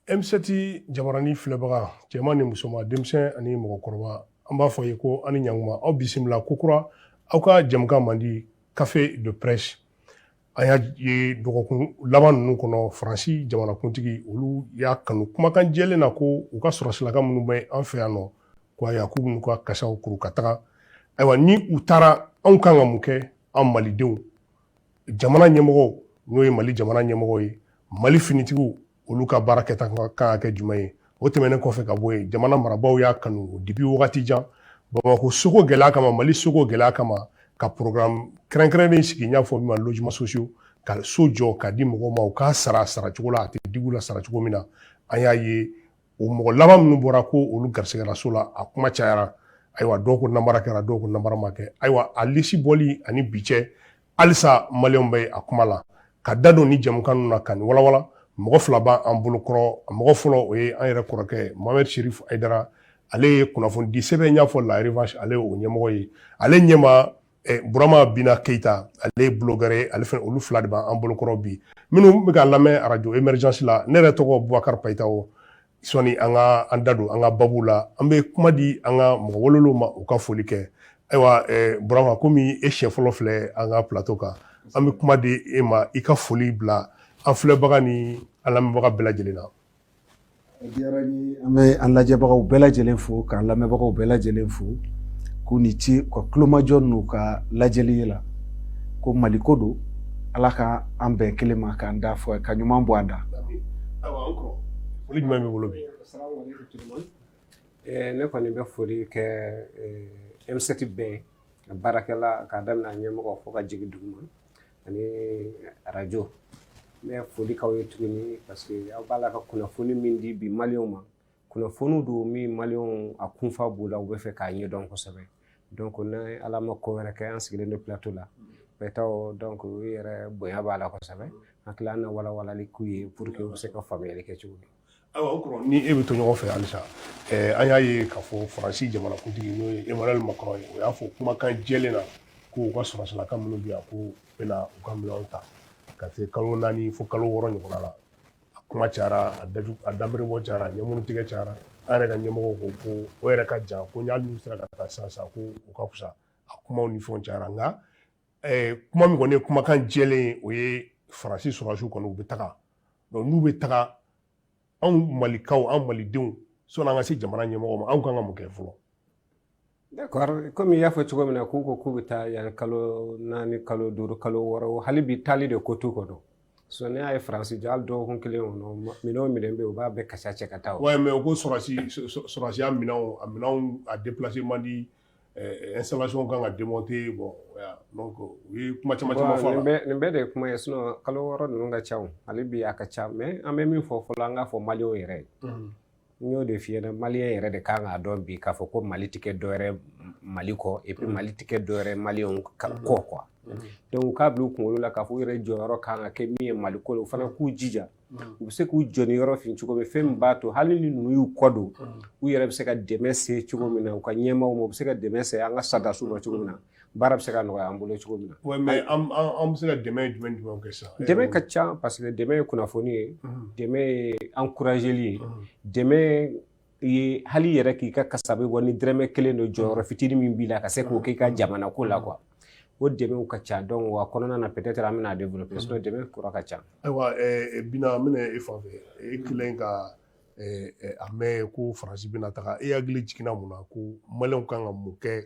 emisɛti jabarani filɛbaga cɛman ni musoman denmisɛn ani mɔgɔkɔrɔba an b'a f'aw ye ko aw ni ɲanguma aw bisimila kokura aw ka jɛmukan mandi café de presse an y'a ye dɔgɔkun laban ninnu kɔnɔ faransi jamanakuntigi olu y'a kanu kumakan jɛlen na ko u ka sɔrɔsilaka minnu bɛ an fɛ yan nɔ ko ayiwa k'u bɛn'u ka kasaw kuru ka taga ayiwa ni u taara anw kan ka mun kɛ an malidenw jamana ɲɛmɔgɔw n'o ye mali jamana ɲɛmɔgɔ ye mali finitigiw olu ka baara kɛta kan ka kɛ jumɛn ye o tɛmɛnen kɔfɛ ka bɔ yen jamana marabaaw y'a kanu depuis wagati jan bamakɔ soko gɛlɛya kama mali soko gɛlɛya kama ka programme kɛrɛnkɛrɛnnen sigi n y'a fɔ min ma logements sociaux ka so jɔ ka di mɔgɔw ma u k'a sara sara cogo la a tɛ dig'u la sara cogo min na an y'a ye o mɔgɔ laban minnu bɔra ko olu garisigɛra so la a kuma cayara ayiwa dɔw ko namara kɛra dɔw ko namara ma kɛ ayiwa a lisi bɔli ani bi cɛ halisa maliyɛnw bɛ a kuma la ka da don ni jɛmukan ninnu na ka nin walawala mɔgɔ fila b'an bolokɔrɔ a mɔgɔ fɔlɔ o ye an yɛrɛ kɔrɔkɛ mohamed cherif ayidara ale ye kunnafonidisɛbɛn y'a fɔ la revanche ale o ɲɛmɔgɔ ye ale ɲɛma eh, burama bina keyita ale ye blogueur ye ale fɛnɛ olu fila de b'an bolokɔrɔ bi minnu bɛ k'an lamɛn arajo emergence la ne yɛrɛ tɔgɔ bubakari payitawo sɔni an ka an da don an ka babu la an bɛ kuma di an ka mɔgɔ welelenw ma u ka foli kɛ ayiwa eh, burama komi e siɲɛ fɔlɔ filɛ an ka plateau kan an bɛ kuma di e ma i ka foli bila an filɛbaga ni an lamɛnbaga bɛɛ lajɛlen na a diyara n ye an bɛ an lajɛbagaw bɛɛ lajɛlen fo k'an lamɛnbagaw bɛɛ lajɛlen fo k'u ni ce u ka tulomajɔ n'u ka lajɛli la ko mali ko don ala ka an bɛn kelen ma k'an da fɔ ka ɲuman bɔ an da foli jumɛn b'i bolo bi ne kɔni bɛ foli kɛ emisɛti bɛɛ ka baarakɛla k'a daminɛ an ɲɛmɔgɔ fo ka jigin duguma ani arajo n bɛ foli k'aw ye tuguni parce que aw b'a la ka kunnafoni min di bi maliyɛnw ma kunnafoni don min maliyɛnw a kunfa b'u la u b'a fɛ k'a ɲɛdɔn kosɛbɛ donc ni ala ma ko wɛrɛ kɛ an sigilen don plateau la payitawo donc u yɛrɛ bonya b'a la kosɛbɛ an tila an na walawalali k'u ye pour que u bɛ se ka faamuyali kɛ cogo min ayiwa o kɔrɔ ni e bɛ to ɲɔgɔn fɛ halisa an y'a ye k'a fɔ faransi jamanakuntigi n'o ye emmanuel macron ye o y'a fɔ kumakan jɛlen na ko u ka sɔrɔsilaka minnu bɛ yan ko u bɛna u ka minɛnw ta ka se kalo naani fo kalo wɔɔrɔ ɲɔgɔnna la a kuma cayara a daju a dabɔ cayara a ɲɛmuru tigɛ cayara an yɛrɛ ka ɲɛmɔgɔw ko o yɛrɛ ka jan ko hali n'u sera ka taa sisan k'o ka fisa a kuma ni fɔ cayara nka kuma min kɔni ye kumakan jɛlen ye o ye faransi sɔrɔsiw kɔni u bɛ taga n'u bɛ taga anw malikaw an malidenw sɔni an ka se jamana ɲɛmɔgɔw ma anw ka kan ka mun kɛ fɔlɔ kɔmi i y'a fɔ cogo min na k'u ko k'u bɛ taa yan kalo naani kalo duuru kalo wɔɔrɔ hali bi taali de ko t'u kɔnɔ sisan ne y'a ye faransi jɔ hali dɔgɔkun kelen kɔnɔ minɛn o minɛn bɛ yen u b'a bɛɛ kasa cɛ ka taa o. ouais mais u ko sɔrɔsi sɔrɔdasiya minɛnw a minɛnw a déplacé man di installation kan ka démonter bon donc u ye kuma caman caman fɔ a la. nin bɛɛ de ye kuma ye sinon kalo wɔɔrɔ ninnu ka ca o hali bi a ka ca mais an bɛ min fɔ fɔlɔ an k'a fɔ maliyɛnw yɛrɛ ye. n y'o de f'i ɲɛna maliyɛn yɛrɛ de kan k'a dɔn bi k'a fɔ ko mali tɛ kɛ dɔwɛrɛ mali kɔ et puis mm. mali tɛ kɛ dɔwɛrɛ maliyɛnw mm-hmm. kɔ quoi mm-hmm. donc k'a bila u kunkolo la k'a fɔ u yɛrɛ jɔyɔrɔ kan ka kɛ min ye mali ko la u fana k'u jija mm-hmm. u bɛ se k'u jeniyɔrɔ fin cogo min fɛn min b'a to hali ni ninnu y'u kɔ don u yɛrɛ bɛ se ka dɛmɛ se cogo min na u ka ɲɛmaaw ma u bɛ se ka dɛmɛ se an ka sɔrɔdasiw ma cogo min na baara bɛ se ka nɔgɔya an bolo cogo min na Ouais, mais an an- an bɛ se ka dɛmɛ jumɛn jumɛn kɛ sisan dɛmɛ ka ca parce que dɛmɛ ye kunnafoni ye Mhm, dɛmɛ ye encourageli ye mhm. dɛmɛ ye hali i yɛrɛ k'i ka kasabi bɔ ni dɛrɛmɛ kelen don jɔyɔrɔ fitinin min b'i la ka se k'o k'i ka jamana ko la quoi o dɛmɛw ka ca donc wa kɔnɔna na peut-être an bɛna développer sinon dɛmɛ kura ka ca ayiwa ɛɛ bina an bɛna e fan fɛ e kɛlen ka ɛɛ, ɛɛ, a mɛn ko faransi bɛna taga e hakili jiginna mun na ko maliyɛnw kan ka mun kɛ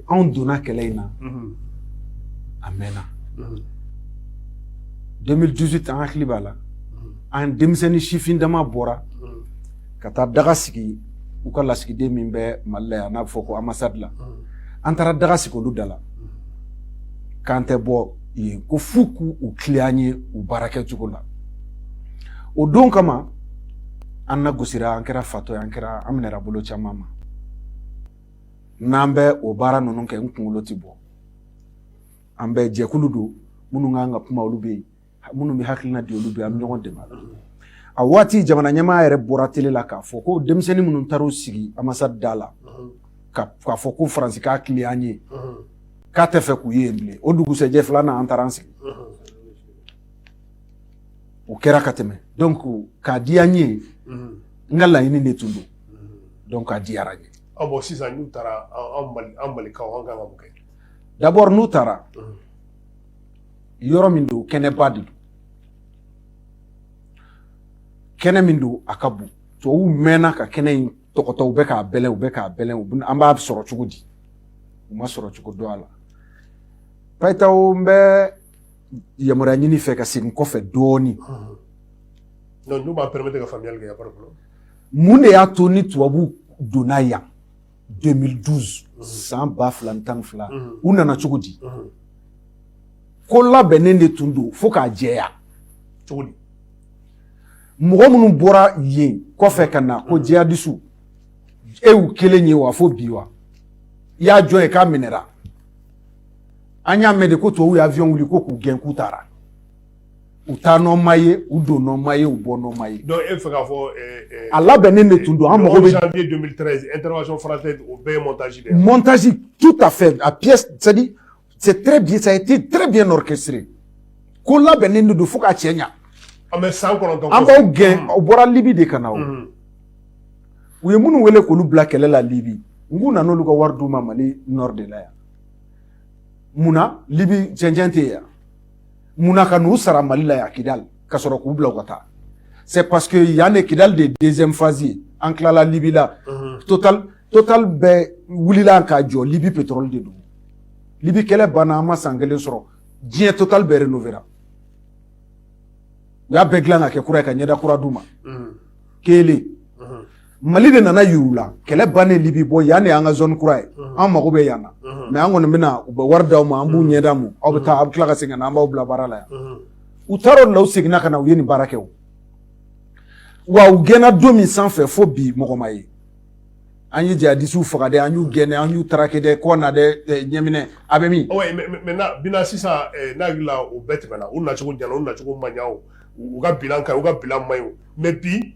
anw donna kɛlɛ in na a mɛnna 2018 an hakili b'a la an denmisɛnnin sifin dama bɔra ka taa daga sigi u ka lasigiden min bɛ mali la yan n'a bɛ fɔ ko ambassade la an taara daga sigi olu da la k'an tɛ bɔ yen ko f'u k'u u tilen an ye u baara kɛ cogo la o don kama an na gosira an kɛra fatɔ ye an kɛra an minɛra bolo caman ma n'an bɛ o baara ninnu kɛ n kunkolo ti bɔ an bɛ jɛkulu don minnu kan ka kuma olu bɛ yen minnu bɛ hakilina di olu bɛ an bɛ ɲɔgɔn dɛmɛ a waati jamana ɲɛmaa yɛrɛ bɔra tele la k'a fɔ ko denmisɛnnin minnu taar'u sigi ambassade da la k'a fɔ ko faransi k'a tilen an ye k'a t'a fɛ k'u ye yen bilen o dugusɛjɛ filanan an taara an sigi o kɛra ka tɛmɛ donc k'a di an ye n ka laɲini de tun don donc a diyara n ye Ah bon sisan n'u taara an malikaw an kan ka mun kɛ d'abord n'u taara yɔrɔ min don kɛnɛba de don kɛnɛ min don a ka bon tubabuw mɛnna ka kɛnɛ in tɔgɔtɔ u bɛ k'a bɛlɛn u bɛ k'a bɛlɛn an b'a sɔrɔ cogo di u m'a sɔrɔ cogo dɔn a la payitaw n bɛ yamaruya ɲini i fɛ ka segin kɔfɛ dɔɔnin n'u b'a permettre ka faamuyali kɛ Mun de y'a to ni tubabuw donna yan 2012 san ba fila tan ni fila u nana cogo di ko labɛnnen de tun don fo k'a jɛya cogo di mɔgɔ minnu bɔra yen kɔfɛ ka na ko jihadisiw e y'u kelen ye wa fo bi wa i ye jɔn ye k'a minɛra an y'a mɛn de ko tubabuw ye avion wuli ko k'u gɛn k'u taara u taa nɔ ma ye u don nɔ ma ye u bɔ nɔ ma ye. donc e b'a fɛ k'a fɔ. a labɛnnen de tun don an mago bɛ. janvier 2013 intervention française o bɛɛ ye montage de ye. montage tout à fait a pièce c'est à dire c'est très bien ça a été très bien orchestré ko labɛnnen de don fo k'a cɛɲa. an bɛ san kɔnɔntɔn. an b'aw gɛn u bɔra libi de ka na o. u ye minnu wele k'olu bila kɛlɛ la libi n k'u nana olu ka wari d'u ma mali nord de la yan mun na libi cɛncɛn tɛ yen yan. mun na ka n'u sara mali la yan kidali ka sɔrɔ k'u bila u ka taa c'est parce que yan de kidali de ye deuxième phase ye an tilala libi la mhm. total total bɛɛ wulila ka jɔ libi pétrole de don libi kɛlɛ banna a ma san kelen sɔrɔ diɲɛ total bɛɛ rénovéra u y'a bɛɛ dilan ka kɛ kura ye ka ɲɛda kura d'u ma mhm. kelen Mali de nana yur'u la kɛlɛ bannen Libi bon yan de y'an ka zone kura ye unhun an mago bɛ yan na unhun mais an kɔni bɛna u bɛ wari d'aw ma an bɛ moyen d'aw ma unhun aw bɛ taa aw bɛ tila ka segin ka na an b'aw bila baara la yan unhun u taar'o de la u seginna ka na u ye nin baara kɛ o wa u gɛnna don min sanfɛ fo bi mɔgɔ ma ye an ye jihadisiw faga dɛ an y'u gɛn dɛ an y'u traqué dɛ Kɔna dɛ ɛ ɲɛminɛ a bɛ min oui mais mais maintenant bilan sisan ɛɛ ne hakili la o bɛɛ tɛmɛna u nacogo ɲana u nacogo ma ɲa o u u ka bilan ka ɲi u ka bilan man ɲi o mais bi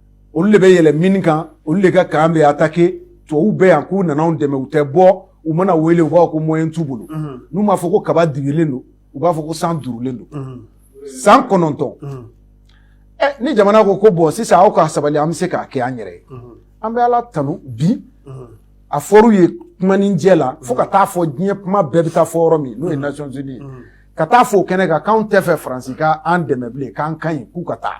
olu de bɛ yɛlɛ min kan olu de ka kan bɛ attaqué tubabuw bɛ yan k'u nana an dɛmɛ u tɛ bɔ u mana wele u b'a fɔ ko moyen t'u bolo n'u m'a fɔ ko kaba dibilen don u b'a fɔ ko san duurulen don san kɔnɔntɔn ni jamana ko ko bon sisan aw ka sabali an bɛ se k'a kɛ an yɛrɛ ye an bɛ ala tanu bi a fɔr'u ye kumanin jɛ la fo ka taa fɔ diɲɛ kuma bɛɛ bɛ taa fɔ yɔrɔ min n'o ye Nations Unies ye ka taa fɔ o kɛnɛ kan k'an t'a fɛ faransi k'an dɛmɛ bilen k'an ka ɲi k'u ka taa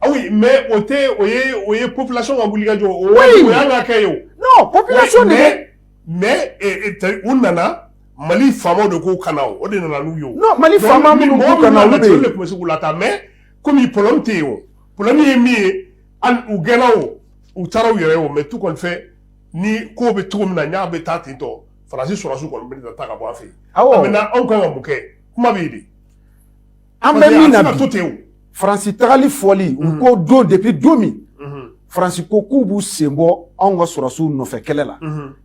Ah oui mais o tɛ o ye o ye population ka wulikajɔ o waati o y'an ka kɛ ye o non population de bɛ mais mais u nana Mali faamaw de k'u ka na o o de nana n'u ye o non Mali faama minnu k'u ka na olu de ye olu de tun bɛ se k'u lataa mais komi problème tɛ yen o problème ye min ye hali u gɛnna o u taara u yɛrɛ ye o mais tout compte fait ni kow bɛ cogo min na n'a bɛ taa ten tɔ Faransi sɔrɔdasiw kɔni bɛna taa ka bɔ an fɛ yen awɔ maintenant anw ka kan ka mun kɛ kuma bɛ yen de An bɛ min na bi faransi tagali fɔli u ko don depuis don min faransi ko k'u b'u sen bɔ anw ka sɔrɔsiw nɔfɛ kɛlɛ la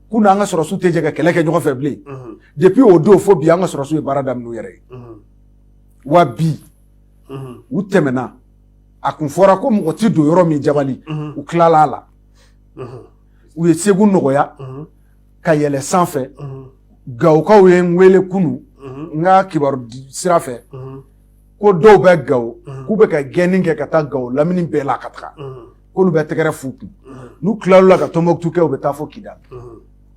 k'u n'an ka sɔrɔsiw tɛ jɛ ka kɛlɛ kɛ ɲɔgɔn fɛ bilen depuis o don fo bi an ka sɔrɔsiw ye baara daminɛ u yɛrɛ ye wa bi u tɛmɛna a kun fɔra ko mɔgɔ tɛ don yɔrɔ min jabali u tilala a la u ye segu nɔgɔya ka yɛlɛ sanfɛ gawokaw ye n wele kunun n ka kibaru sira fɛ ko dɔw bɛ gawo k'u bɛ ka gɛnni kɛ ka taa gawo lamini bɛɛ la ka taga k'olu bɛ tɛgɛrɛ f'u kun n'u tilal'o la ka tumutu kɛ u bɛ taa fo kidal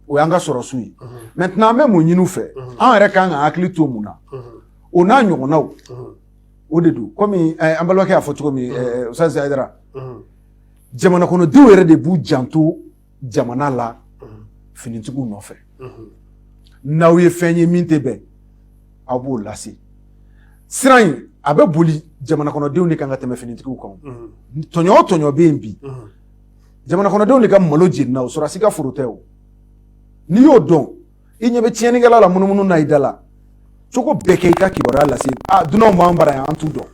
o y'an ka sɔrɔsiw ye maintenant an bɛ mun ɲini u fɛ an yɛrɛ ka kan ka hakili to mun na o n'a ɲɔgɔnnaw o de don kɔmi an balimakɛ y'a fɔ cogo min sa jara jamana kɔnɔdenw yɛrɛ de b'u janto jamana la finitigiw nɔfɛ n'aw ye fɛn ye min tɛ bɛn aw b'o lase siran in a bɛ boli jamanakɔnɔdenw de kan ka tɛmɛ finitigiw kan tɔɲɔ o tɔɲɔ bɛ yen bi jamanakɔnɔdenw de ka malo jenina o sɔrɔsi ka foro tɛ o n'i y'o dɔn i ɲɛ bɛ tiɲɛnikɛla la munumunu na i da la cogo bɛɛ kɛ i ka kibaruya lase a dunanw b'an bara yan an t'u dɔn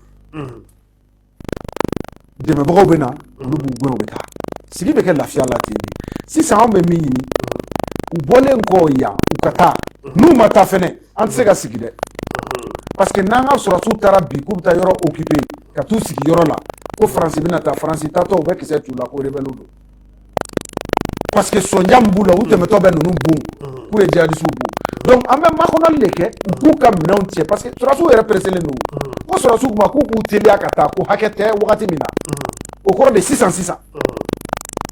dɛmɛbagaw bɛ na olu b'u gɛn u bɛ taa sigi bɛ kɛ lafiya la ten de sisan anw bɛ min ɲini u bɔlen kɔ yan u ka taa n'u ma taa fɛnɛ an tɛ se ka sigi dɛ parce que n'an ka sɔrɔsiw taara bi k'u bɛ taa yɔrɔ occuper ka t'u sigi yɔrɔ la ko faransi bɛna taa faransi taatɔ u bɛ kisɛ t'u la ko rebɛliw don parce que sonja min b'u la u tɛmɛtɔ bɛ ninnu bon k'u ye jihadisiw bon donc an bɛ makɔnɔli de kɛ u k'u ka minɛnw cɛ parce que sɔrɔsiw yɛrɛ pereselen don ko sɔrɔsiw ma k'u k'u teliya ka taa ko hakɛ tɛ wagati min na o kɔrɔ de sisan sisan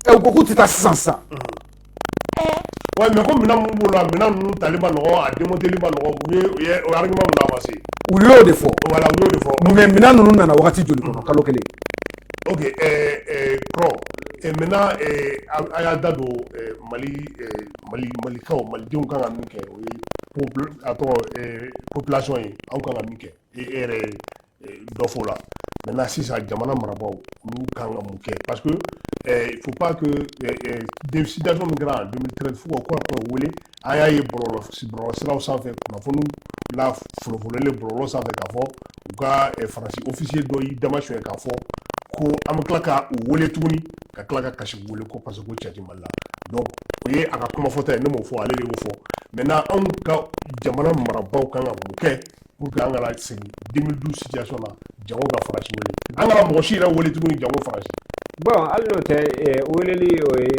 ɛ u ko k'u tɛ taa sisan sisan ouais mais ko minɛn minnu b'u la minɛn ninnu tali ma nɔgɔ a démonteli ma nɔgɔ u ye u ye o argument mun avancé u y'o de fɔ voilà u y'o de fɔ mais minɛn ninnu nana wagati joli kɔnɔ kalo kelen O que kɔ mɛ a y'a da don mali mali malikaw malidenw ka min kɛ o ye a tɔgɔ kolasɔn ye aw ka min kɛ e yɛrɛ dɔfɔ la mɛ na sisan jamana marabagaw olu ka ka mun kɛ pa que fo' denmisɛnwda min kɛra a denmisɛnnin fo ka wele an y'a ye bɔlɔlɔ bɔlɔlɔsiraw sanfɛ kunnafoniw la folofololen bɔlɔlɔ sanfɛ k'a fɔ u ka eh, faransi officier dɔ y'i dama suɲɛ k'a fɔ ko an bɛ tila ka u wele tuguni ka tila ka kasi wele ko parce que ko cɛ ti mali la donc o ye a ka kuma fɔta ye ne m'o fɔ ale de y'o fɔ maintenant anw ka jamana marabaaw kan ka mun kɛ pour que an kana segin 2012 situation na janko ka faransi wele an kana mɔgɔ si yɛrɛ wele tuguni janko faransi bon hali n'o tɛ eh, weleli o ye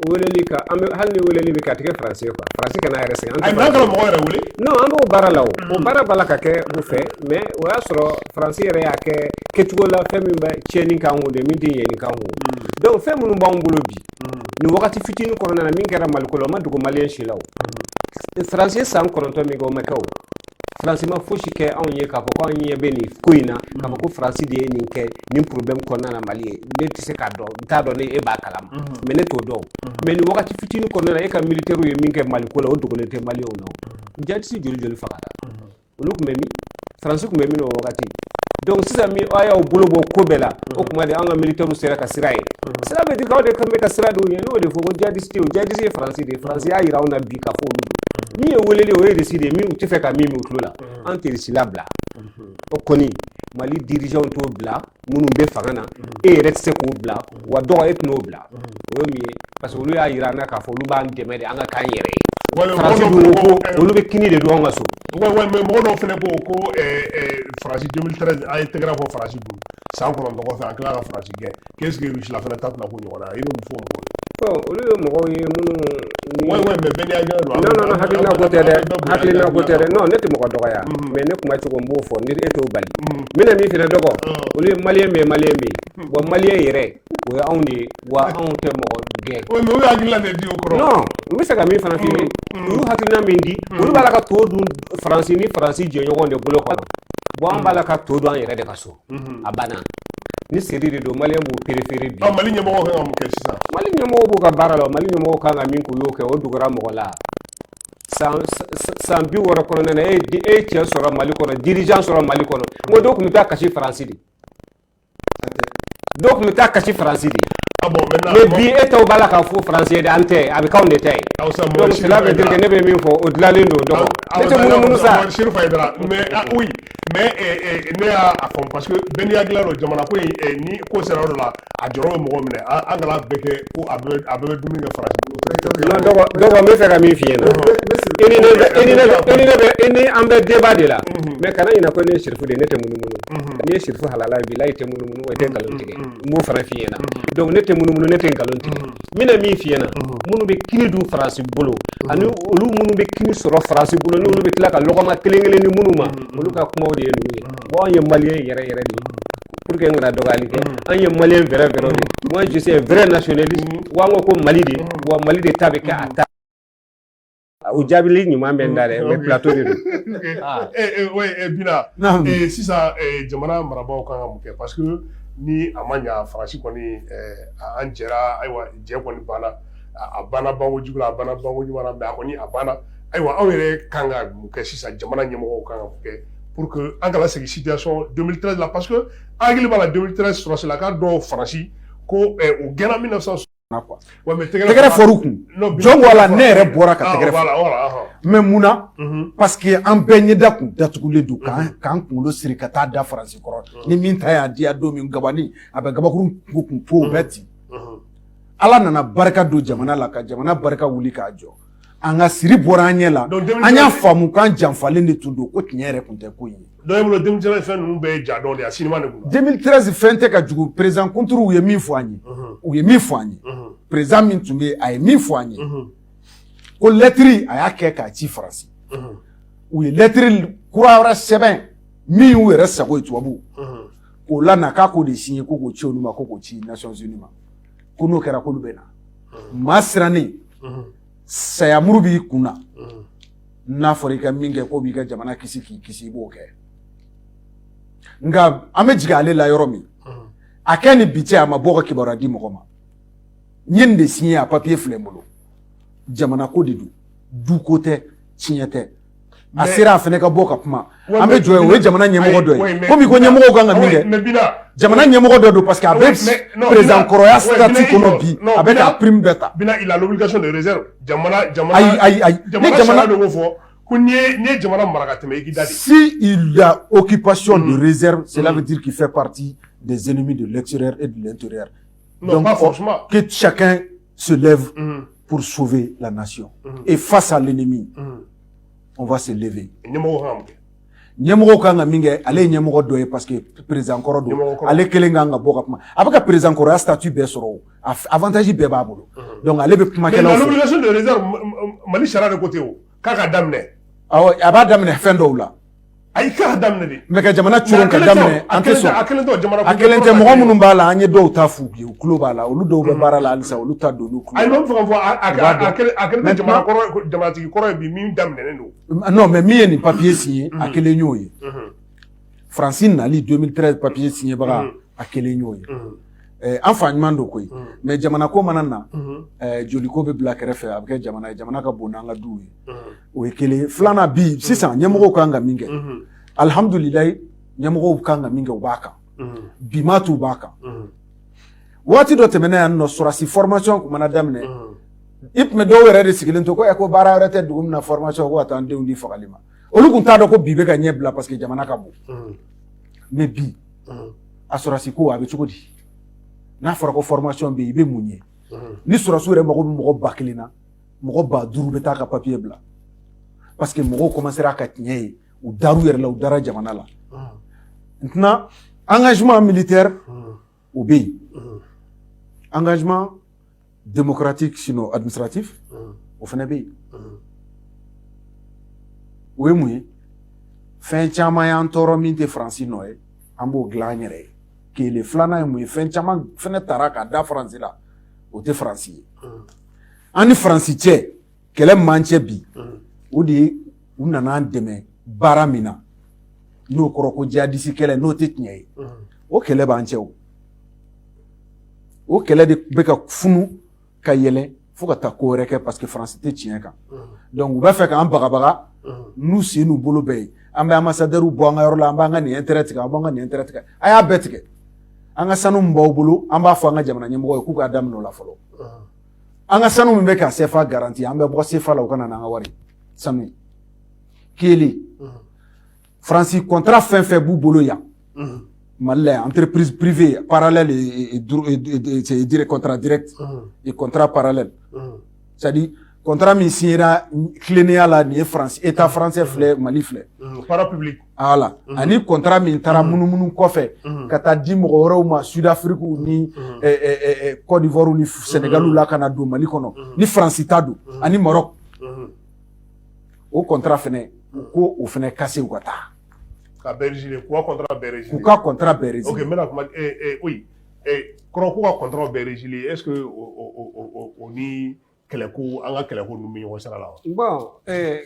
weleli ka an bɛ hali ni weleli bɛ ka tigɛ faransi ye quoi faransi kana yɛrɛ sɛgɛn an kana mɔgɔ yɛrɛ wele non an b'o baara la o mm. o baara b'a la ka kɛ u fɛ mais o y'a sɔrɔ faransi yɛrɛ y'a kɛ kɛcogo la fɛn min bɛ tiɲɛni kan o de min tɛ ɲɛni kan o mm. donc fɛn minnu b'an bolo bi nin wagati fitinin kɔnɔna na min kɛra maliko la o ma dogo maliyɛn si la o faransi ye san kɔnɔntɔn min kɛ o ma kɛ o faransi ma fosi kɛ anw ye k'a fɔ ko anw ɲɛ bɛ nin ko in na k'a fɔ ko faransi de ye nin kɛ nin problème kɔnɔna na mali ye ne tɛ se k'a dɔn n t'a dɔn ni e b'a kalama mais ne t'o dɔn mais nin wagati fitinin kɔnɔna na e ka militaires ye min kɛ maliko la o dogolen tɛ maliyɛnw na o djihadiste joli joli fagara olu tun bɛ min faransi tun bɛ min o wagati donc sisan min a y'a bolo bɔ ko bɛɛ la o tuma de an ka militaires sera ka sira ye sira bɛ di k'aw de kan bɛ ka sira dɔw ɲɛ n'o de fɔ ko djihadiste o djihadiste ye faransi de ye faransi y'a jira anw na bi k'a fɔ olu don min ye weleli o ye Russie de ye min u tɛ fɛ ka min mɛn u tulo la an tɛ Russie labila o kɔni mali dirigeants t'o bila minnu bɛ fanga na e yɛrɛ tɛ se k'o bila wa dɔgɔ e tɛn'o bila o ye min ye parce que olu y'a jira an na k'a fɔ olu b'an dɛmɛ de an ka k'an yɛrɛ ye Wale- faransi mɔgɔ dun dɔw ko ko fana ko- olu bɛ kini de dun an ka so Wa- wa- mais mɔgɔ dɔw fana ko ko eh, eh, faransi 2013 an ye tɛgɛrɛ fɔ faransi bolo san kɔnɔntɔn kɔfɛ an tila ka faransi gɛn qu'est ce que Russie la fana ta tɛna k'o ɲɔgɔnna i bɛ mun fɔ mɔgɔw ye. Ɔ olu ye mɔgɔw ye minnu ni. Oui oui mais bɛɛ n'i hakilina don. Non non non hakilina ko tɛ dɛ hakilina ko tɛ dɛ non ne tɛ mɔgɔ dɔgɔya. Mais ne kuma cogo n b'o fɔ ni e t'o bali. N bɛna min f'i ɲɛna dɔgɔ olu ye maliyɛn min ye maliyɛn bɛ yen wa maliyɛn yɛrɛ o ye anw de ye wa anw tɛ mɔgɔ gɛn. Oui mais olu y'u hakilina de di o kɔrɔ. Non n bɛ fɛ ka min fana f'i ye u y'u hakilina min di olu b'a la ka to dun Faransi ni Faransi jɛɲɔgɔnw de bolo quoi bon an b'a la ka to dun an yɛrɛ de ka so. mhm. a banna ni seri de don maliyɛn b'o perefere bi mali ɲɛmɔgɔw kan ka mun kɛ sisan mali ɲɛmɔgɔw b'u ka baara la mali ɲɛmɔgɔw kan ka min k'u y'o kɛ o dogora mɔgɔ la san bi wɔɔrɔ kɔnɔna na e ye cɛ sɔrɔ mali kɔnɔ dirigeant sɔrɔ mali kɔnɔ n ko dɔw tun bɛ taa kasi faransi de dɔw tun bɛ taa kasi faransi de ah mais bi e taw b'a la k'a fɔ faransi ye de an tɛ a bɛ k'anw de ta ye ah, donc cela veut dire que ne bɛ min fɔ o tilennen don dɔgɔ ne tɛ munumunu sa mais ne y'a fɔ parce que bɛɛ n'i hakilina don jamana ko ni ko sera yɔrɔ la a jɔrɔ bɛ mɔgɔ minɛ an kana bɛɛ kɛ ko a bɛ dumuni kɛ faransi n bɛ fɛ ka min f'i ɲɛ na ni an bɛ débat de la mais kana ɲina ko ne ye sirifu de ne tɛ munumunu n'i ye sirifu halala bilahi i tɛ munumunu wa i tɛ nkalon tigɛ n b'o fana f'i ɲɛ na ne tɛ munumunu ne tɛ nkalon tigɛ n bɛna min f'i ɲɛna minnu bɛ kini dun faransi bolo ani olu minnu bɛ kini sɔrɔ faransi bolo ni olu bɛ tila ka lɔgɔma kelen kelen di minnu ma olu ka kumaw de ye ninnu ye bon anw ye maliyɛn yɛrɛ yɛrɛ de ye pour que n kana dɔgɔyali kɛ an ye maliyɛn vrai vrai de ye moi je suis un vrai nationaliste wa an ko ko mali de wa mali de ta bɛ kɛ a ta O jaabili ɲuman bɛ n da dɛ mais plateau de don. Aa ee ee oui ee Bina. Naamu. Ee sisan ee jamana marabaaw ka kan ka mun kɛ parce que ni a ma ɲa Faransi kɔni ɛɛ a an jɛra ayiwa jɛ kɔni banna a banna banko jugu la a banna banko ɲuman na mais a kɔni a banna ayiwa anw yɛrɛ ka kan ka mun kɛ sisan jamana ɲɛmɔgɔw ka kan ka mun kɛ pour que an kana segin situation 2013 la parce que an hakili b'a la 2013 sɔrɔdasilakan dɔw Faransi ko ɛɛ u gɛnna 1960 tɛgɛrɛ fɔr'u kun jɔn ko Ala ne yɛrɛ bɔra ka tɛgɛrɛ fɔ mais mun na parce que an bɛɛ ɲɛda kun datugulen don k'an kunkolo siri ka taa da faransi kɔrɔ ni min ta y'a diya don min gabani a bɛ gabakurun kun fo o bɛɛ ci Ala nana barika don jamana la ka jamana barika wuli k'a jɔ an ka siri bɔra an ɲɛ la an y'a faamu k'an janfalen de tun don ko tiɲɛ yɛrɛ tun tɛ ko ye Dɔw bolo 2013 fɛn ninnu bɛɛ ye ja dɔ de ye a sinima de don, 2013 fɛn tɛ ka jugu président contre u ye min fɔ an ye, unhun, u ye min fɔ an ye, unhun, président min tun bɛ yen a ye min fɔ an ye, unhun, ko lɛtiri a y'a kɛ k'a ci Faransi, unhun, u ye lɛtiri kura wɛrɛ sɛbɛn min y'u yɛrɛ sago ye tubabuw, unhun, k'o lana k'a k'o de signer ko k'o ci olu ma ko k'o ci Nations Unies ma ko n'o kɛra k'olu bɛ na, unhun, maa sirannen, unhun, sayamuru b'i kun na, unhun n'a fɔra i ka min kɛ k'o b'i ka jamana kisi k'i kisi i b'o kɛ nka an bɛ jigin ale la yɔrɔ min a kɛ ni bi cɛ a ma bɔ ka kibaruya di mɔgɔ ma n ye nin de siɲɛ a papiye filɛ n bolo jamana ko de don duko tɛ tiɲɛ tɛ a sera a fana ka bɔ ka kuma an bɛ jɔ o ye jamana ɲɛmɔgɔ dɔ ye komi i ko ɲɛmɔgɔw kan ka min kɛ jamana ɲɛmɔgɔ dɔ don parce que a bɛ président kɔrɔya statut kɔnɔ bi a bɛ ka prime bɛɛ ta ayi ayi ayi ni jamana don ko fɔ ko n'i ye jamana mara ka tɛmɛ i k'i da de si il y a obligation de réserve cela veut dire qu'il fait partie des ennemis de l'extérieur et de l'intérieur donc que chacun se lève mm. pour sauver la nation. Mm. Et face à l'ennemi, mm. on va se lever. ɲɛmɔgɔw kan ka min kɛ ale ye ɲɛmɔgɔ dɔ ye parce que président kɔrɔ don ale kelen kan ka bɔ ka kuma a bɛ ka président kɔrɔya statut bɛɛ sɔrɔ o avantage bɛɛ b'a bolo donc ale bɛ kumakɛlaw fɛ. l'obligation de réserve Mali sariya de ko ten o k'a k'a da minɛ. awɔ a b'a da minɛ fɛn dɔw la. ayi k'a k'a da minɛ de mais ka jamana coron k'a da minɛ an tɛ sɔn a kelen tɛ jamana a kelen tɛ mɔgɔ minnu b'a la an ye dɔw ta f'u ye u tulo b'a la olu dɔw bɛ baara la halisa olu ta don olu tulo ayi n bɛ fɛ k'a fɔ a kelen tɛ jamana kɔrɔ jamanatigi kɔrɔ ye bi min da minɛnen don non mais min ye nin papiye siɲɛ a kelen y'o ye faransi nali 2013 papiye siɲɛbaga a kelen y'o ye Ɛɛ an fa ɲuman don koyi unhun mais jamana ko mana na unhun ɛɛ joli ko be bila kɛrɛfɛ a be kɛ jamana ye jamana ka bon n'an ka duw ye unhun o ye 1 ye 2 nan bi sisan ɲɛmɔgɔw kan ka min kɛ unhun alhamdulilahi ɲɛmɔgɔw kan ka min kɛ u b'a kan unhun bi m'a t'u b'a kan unhun waati dɔ tɛmɛna yan nɔ sɔrasi formation tun mana daminɛ unhun i tun bɛ dɔw yɛrɛ de sigilen to ko ɛ ko baara wɛrɛ tɛ dugu min na formation kɔ ka taa an denw di fagali ma olu tun t'a dɔn ko bi bɛ ka ɲɛ bila parce que jamana ka bon unhun mais bi a sɔrɔsi ko a bɛ cogo di n'a fɔra ko formation bɛ yen i bɛ mun ye ni sɔrɔsiw yɛrɛ mago bɛ mɔgɔ ba kelen na mɔgɔ ba duuru bɛ taa ka papier bila parce que mɔgɔw commencera ka tiɲɛ ye u dar'u yɛrɛ la u dara jamana la maintenant engagement militaire o bɛ yen engagement démocratique sinon administratif o fana bɛ yen o ye mun ye fɛn caman y'an tɔɔrɔ min tɛ faransi nɔ ye an b'o dilan an yɛrɛ ye kelen filanan ye mun ye fɛn caman fɛnɛ tara ka da faransi la o tɛ faransi ye an ni faransi cɛ kɛlɛ m'an cɛ bi o de ye u nana an dɛmɛ baara min na n'o kɔrɔ ko jihadisi kɛlɛ n'o tɛ tiɲɛ ye o kɛlɛ b'an cɛ o o kɛlɛ de bɛ ka funu ka yɛlɛ fo ka taa ko wɛrɛ kɛ parce que faransi tɛ tiɲɛ kan u b'a fɛ k'an bagabaga n'u sen n'u bolo bɛɛ ye an bɛ ambassadeur bɔ an ka yɔrɔ la an b'an ka nin tigɛ an b'an ka nin tigɛ a y'a bɛɛ tigɛ an ka sanu min b'aw bolo an b'a fɔ an ka jamana ɲɛmɔgɔ ye k'u k'a daminɛ o la fɔlɔ an ka sanu min bɛ ka sefa garanti an bɛ bɔ sefa la u ka na n'an ka wari sanu kelen faransi contrat fɛn fɛn b'u bolo yan mali la entreprise privée parallèle et contrat direct et contrat parallèle c'est à dire contrat min signera tilennenya la nin ye faransi état français filɛ mali filɛ voilà ani contrat min taara munumunu kɔfɛ ka taa di mɔgɔ wɛrɛw ma sud afrique ni côte d'ivoire ni sénégal la ka na don mali kɔnɔ ni faransi ta don ani maroc o contrat fɛnɛ ko o fɛnɛ casser u ka taa ka briser k'u ka contrat briser k'u ka contrat briser ok maintenant kuma oui kɔrɔ k'u ka contrat briser est-ce que o ni kɛlɛko an ka kɛlɛko ninnu bɛ ɲɔgɔn sira la wa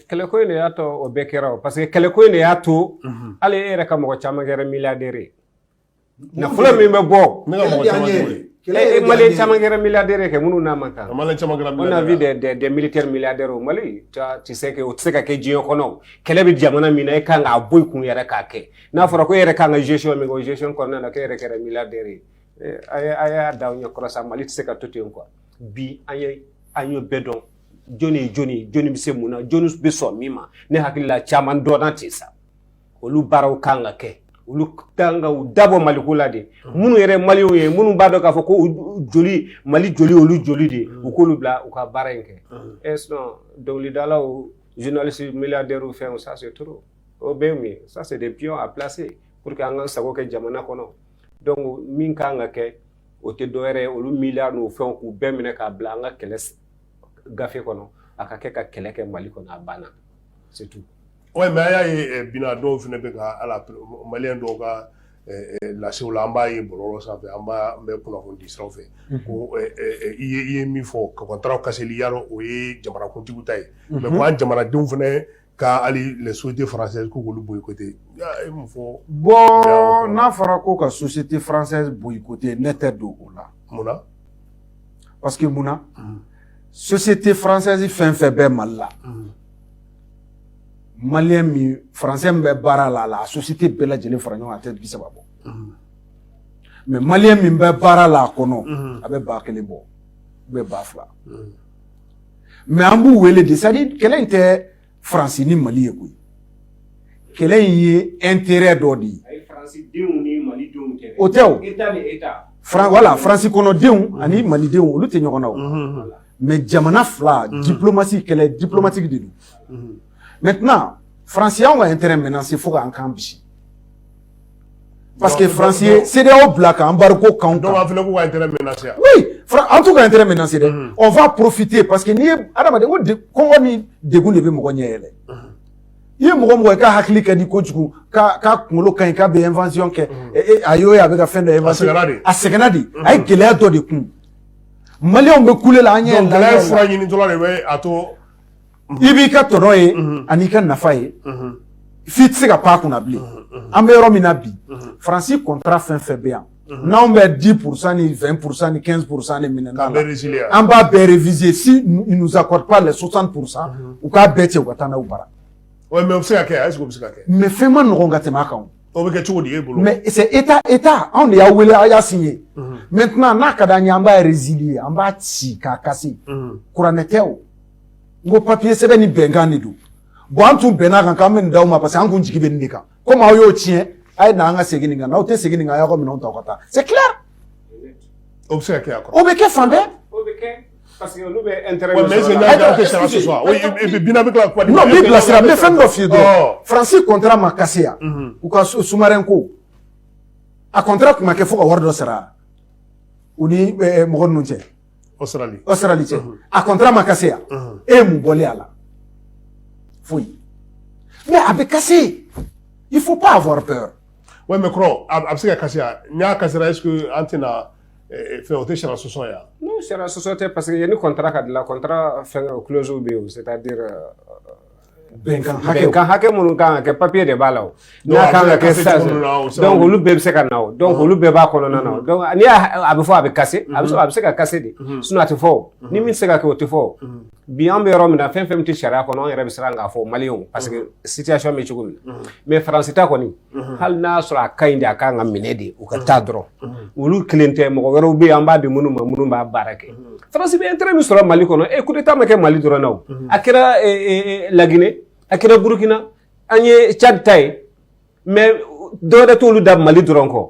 kɛlɛko in de y'a to o bɛɛ kɛra o parce que kɛlɛko in de y'a to hali e yɛrɛ ka mɔgɔ caman kɛra milliardaire ye nafolo min bɛ bɔ ne ka mɔgɔ caman e malien caman kɛra milliardaire kɛ minnu n'a man kan malien caman kɛra on a vu des militaires milliardaires au mali tu sais que o tɛ se ka kɛ diɲɛ kɔnɔ kɛlɛ bɛ jamana min na e kan k'a bɔ i kun yɛrɛ k'a kɛ n'a fɔra ko e yɛrɛ kan ka gestion min kɛ o gestion kɔnɔna na k'e yɛrɛ kɛra milliardaire ye a y'a da aw ɲɛ kɔrɔ sa mali tɛ se ka to ten quoi bi an ye an ye bɛɛ dɔn jɔnni ye jɔnni ye jɔnni bɛ se mun na jɔnni bɛ sɔn min ma ne hakili la caman dɔnna ten sa olu baaraw kan ka kɛ olu kan ka u dabɔ maliko la de minnu yɛrɛ maliw ye minnu b'a dɔn k'a fɔ ko u joli mali joli olu joli de u k'olu bila u ka baara in kɛ ɛ sinon dɔnkilidalaw journalistes milliardaires fɛnw ça c'est trop o bɛ mun ye ça c'est des pions à placer pour que an ka sago kɛ jamana kɔnɔ donc min kan ka kɛ o tɛ dɔwɛrɛ ye olu milliards n'o fɛnw k'u bɛɛ minɛ k'a bila an ka kɛlɛ gafe kɔnɔ a ka kɛ ka kɛlɛ kɛ mali kɔnɔ a banna c'est tout ouais mais a y'a ye eh, bina dɔw fɛnɛ bɛ ka ala maliyɛn dɔw ka eh, eh, lasew la an b'a ye bɔlɔlɔ sanfɛ an b'a an bɛ kunnafoni di siraw fɛ mhm. ko i ye i ye min fɔ ka kɔntaraw kaseli yɔrɔ o ye jamanakuntigiw ta ye mais mhm. ko an jamanadenw fɛnɛ Ka hali les sociétés françaises k'u k'olu boycotter i ye mun fɔ o la? Bon n'a fɔra ko ka société française boycotter ne tɛ don o la. Mun na? Parce que mun na? Société française fɛn fɛn bɛ Mali la. Maliyɛn min français min bɛ baara la a la a société bɛɛ lajɛlen fara ɲɔgɔn kan a tɛ bi saba bɔ. Mais maliyɛn min bɛ baara la a kɔnɔ a bɛ ba kelen bɔ ou bien ba fila. mais an b'u wele de c'est-à-dire kɛlɛ in tɛ faransi ni mali ye koyi kɛlɛ in ye intérêt dɔ de ye o tɛ voilà faransi kɔnɔdenw ani malidenw olu tɛ ɲɔgɔn na mais jamana fila diplomatie kɛlɛ diplomatique de don maintenant faransi y'anw ka intérêt menacé fo k'an kan bisi parce que faransi ye CEDEAO bila ka embargo kan dɔw b'a fɔ k'u ka intérêt menacé an t'u ka intérêt menacé dɛ on va profiter parce que n'i ye adamaden ko kɔngɔ ni degun de bɛ mɔgɔ ɲɛ yɛlɛ i ye mɔgɔ mɔgɔ ye k'a hakili ka di kojugu k'a kunkolo ka ɲi k'a bɛ invention kɛ a y'o ye a bɛ ka fɛn dɔ invention a sɛgɛnna de a ye gɛlɛya dɔ de kun maliyɛnw bɛ kule la an ɲɛ gɛlɛya fura ɲini dɔrɔn de bɛ a to i b'i ka tɔnɔ ye an'i ka nafa ye f'i tɛ se ka pan a kunna bilen an bɛ yɔrɔ min na bi faransi kɔntara fɛn fɛn bɛ yan n'anw bɛ dix pour cent ni vingt pour cent ni quinze pour cent ni minɛn na an b'a bɛɛ réviser s'ils nous accordent pas les soixante pour cent u k'a bɛɛ cɛ u ka taa n'aw bara mais o bɛ se ka kɛ ayi o bɛ se ka kɛ mais fɛn ma nɔgɔn ka tɛmɛ a kan o bɛ kɛ cogo di e bolo mais état état anw de y'a wele a y'a signé maintenant n'a ka d'an ye an b'a résilier an b'a ci k'a kase kuranɛ tɛ o n ko papiye sɛbɛn ni bɛnkan de don bon an tun bɛnna kan k'an bɛ nin d'aw ma parce que an kun jigi bɛ nin de kan komi aw y'o tiɲɛ a ye na an ka segin nin kan n'aw tɛ segin nin kan a y'aw ka minɛnw ta ka taa c'est clair o bɛ se ka kɛ a kɔrɔ o bɛ kɛ fan bɛɛ parce que olu bɛ intérêt mais est-ce que n'a kɛra que sara ce soir oui et puis bina bɛ tila ka kuma di non n b'i bilasira n bɛ fɛn dɔ f'i ye dɔrɔn faransi kɔntara ma kase yan u ka sous-marin ko a kɔntara tun ma kɛ fo ka wari dɔ sara u ni mɔgɔ ninnu cɛ Australie cɛ a kɔntara ma kase yan e ye mun bɔlen a la foyi mais a bɛ kase il faut pas avoir peur ouais mais kɔrɔ a bɛ se ka kase yan n'a kasera est-ce que an tɛna fɛn o tɛ sariya sɔsɔ yan non sariya sɔsɔ tɛ paseke yanni kɔntara ka dilan kɔntara fɛn clause bɛ yen o c'est-à-dire bɛnkan hakɛ bɛnkan hakɛ minnu kan ka kɛ papiye de b'a la o n'a kan ka kɛ sisan donc olu bɛɛ bɛ se ka na o donc olu bɛɛ b'a kɔnɔna na o donc n'i y'a a bɛ fɔ a bɛ kase a bɛ a bɛ se ka kase de sinon a tɛ fɔ o ni min tɛ se ka kɛ o tɛ fɔ o bi an bɛ yɔrɔ min na fɛn fɛn min tɛ sariya kɔnɔ an yɛrɛ bɛ siran k'a fɔ maliyɛnw parce que situation bɛ cogo min na mais faransi ta kɔni hali n'a y'a sɔrɔ a ka ɲi de a kan ka minɛ de u ka taa dɔrɔn olu kelen tɛ mɔgɔ wɛrɛw bɛ yen an b'a di minnu ma minnu b'a baara kɛ faransi bɛ intérêt min sɔrɔ mali kɔnɔ e kudeta ma kɛ mali dɔrɔn na o a kɛra laginɛ a kɛra burukina an ye cadi ta ye mais dɔwɛrɛ t'olu da mali dɔrɔn kɔ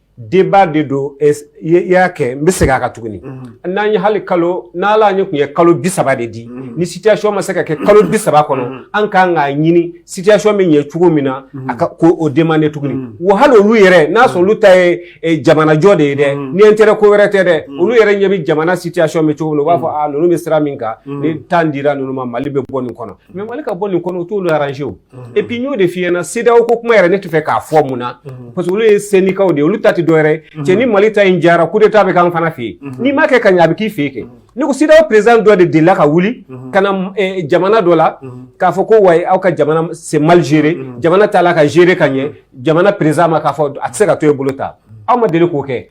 débat de don i y'a kɛ n bɛ segin a kan tuguni n'an ye hali kalo n'ala an ye tun ye kalo bi saba de di ni sitiyasiɔn ma se ka kɛ kalo bi saba kɔnɔ an kan k'a ɲini sitiyasiɔn bɛ ɲɛ cogo min na an kan k'o demander tuguni wa hali olu yɛrɛ n'a sɔrɔ olu ta ye jamanajɔ de ye dɛ ni intérêt ko wɛrɛ tɛ dɛ olu yɛrɛ ɲɛ bɛ jamana sitiyasiɔn bɛ cogo min u b'a fɔ a ninnu bɛ sira min kan ni temps dira ninnu ma mali bɛ bɔ nin kɔnɔ mais mali ka bɔ nin kɔnɔ o t'olu aranze o epi n y'o de f'i ɲɛna CEDEAO ko kuma yɛrɛ ne tɛ fɛ k'a fɔ mun na parce que olu ye syndicat de ye olu ta tɛ dɔwɛrɛ cɛ ni mali ta in jara kudeta bɛ k'an fana fɛ yen n'i m'a kɛ ka ɲɛ a bɛ k'i fɛ yen kɛ ne ko CEDEAO président dɔ de delila ka wuli ka na jamana dɔ la k'a fɔ ko wa aw ka jamana c'est mal géré jamana t'a la ka gérer ka ɲɛ jamana président ma k'a fɔ a tɛ se ka to e bolo ta aw ma deli k'o kɛ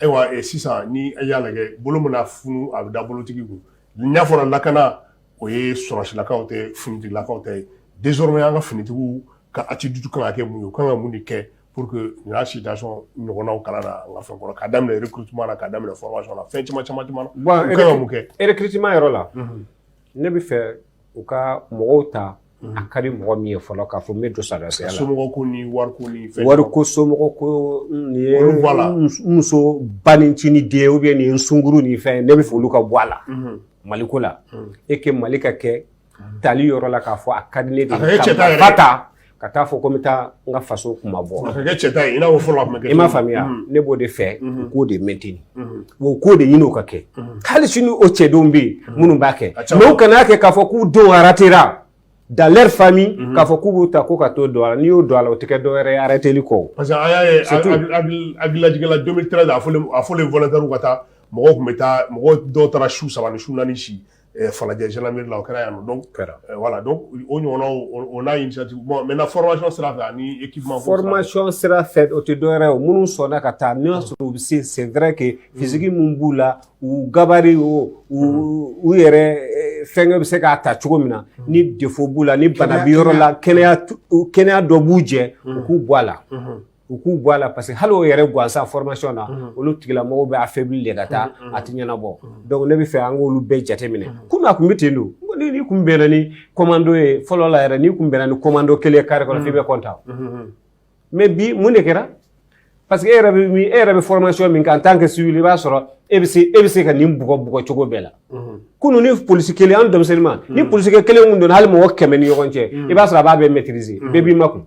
Ayiwa sisan ni y'a lajɛ bolo mana funu a bɛ da bolotigi n'a fɔra lakana o ye sɔsilakaw tɛ ftigilakaw tɛ denmusokɔrɔ y' ka finitigiw ka a dusu ka kɛ mun ye ka kan ka mun de kɛ pur que u y'a si ɲɔgɔnw kala la ka fɛn kɔrɔ ka daminɛ ku ka daminɛ la fɛn caman caman kɛ erkima yɔrɔ la ne bɛ fɛ u ka mɔgɔw ta a ka di mɔgɔ min ye fɔlɔ k'a fɔ n bɛ don sɔrɔdasiya la somɔgɔ ko ni wari ko ni fɛn wari ko somɔgɔ ko nin ye muso ba ni ci ni den ou bien nin ye sunkuru ni fɛn ne bɛ fɛ olu ka bɔ a la mali ko la et que mali ka kɛ tali yɔrɔ la k'a fɔ a ka di ne de ye ka ta ka taa fɔ ko n bɛ taa n ka faso kunmabɔ a ka kɛ cɛta ye i n'a fɔ fɔlɔ a tun bɛ kɛ i m'a faamuya ne b'o de fɛ u k'o de maintenir wa k'o de ɲini o ka kɛ hali sini o cɛdenw bɛ yen minnu b'a kɛ mais u kana kɛ k'a fɔ k'u denw ratera dans leur famille k'a fɔ k'u b'u ta ko ka t'o don a la n'i y'o don a la o tɛ kɛ dɔwɛrɛ ye arrêteli kɔ parce que an y'a ye hakililajigin la 2013 a fɔlen volontaires ka taa mɔgɔw tun bɛ taa mɔgɔ dɔw taara su saba ni su naani si falajɛ zlanmeri la o kɛra yan dɔn kɛra wala dɔn o ɲɔgɔn o n'a yeti bɔ mɛ fɔlɔsɔn sira fɛ ani fɔlɔsɔn sira fɛ o tɛ dɔwɛrɛ o minnu sɔnna ka taa n y'a sɔrɔ u bɛ se senɛrɛ kɛ fisigi minnu b'u la u gabari o u yɛrɛ fɛnkɛ bɛ se k'a ta cogo min na ni defo b'u la ni banabi yɔrɔ la kɛnɛya dɔ b'u jɛ u k'u bɔ a la u k'u bɔ a la parce que hali o yɛrɛ gansan formation na mhm. olu tigilamɔgɔw bɛ affaibli de ka taa mhm, mhm. a tɛ ɲɛnabɔ donc ne bɛ fɛ an k'olu bɛɛ jateminɛ kunu a tun bɛ ten don ni n'i kun bɛnna ni commando ye fɔlɔ la yɛrɛ n'i kun bɛnna ni commando kelen carré kɔnɔ f'i bɛ content mais bi mun de kɛra parce que e yɛrɛ bɛ e yɛrɛ bɛ formation min kɛ en tant que civil i b'a sɔrɔ e bɛ se e bɛ se ka nin bugɔ bugɔ cogo bɛɛ la kunu ni polisi kelen an denmisɛnninma ni polisi kelen kun donna hali mɔgɔ kɛmɛ ni ɲɔgɔn cɛ i b'a sɔrɔ a b'a bɛɛ maîtriser bɛɛ b'i makun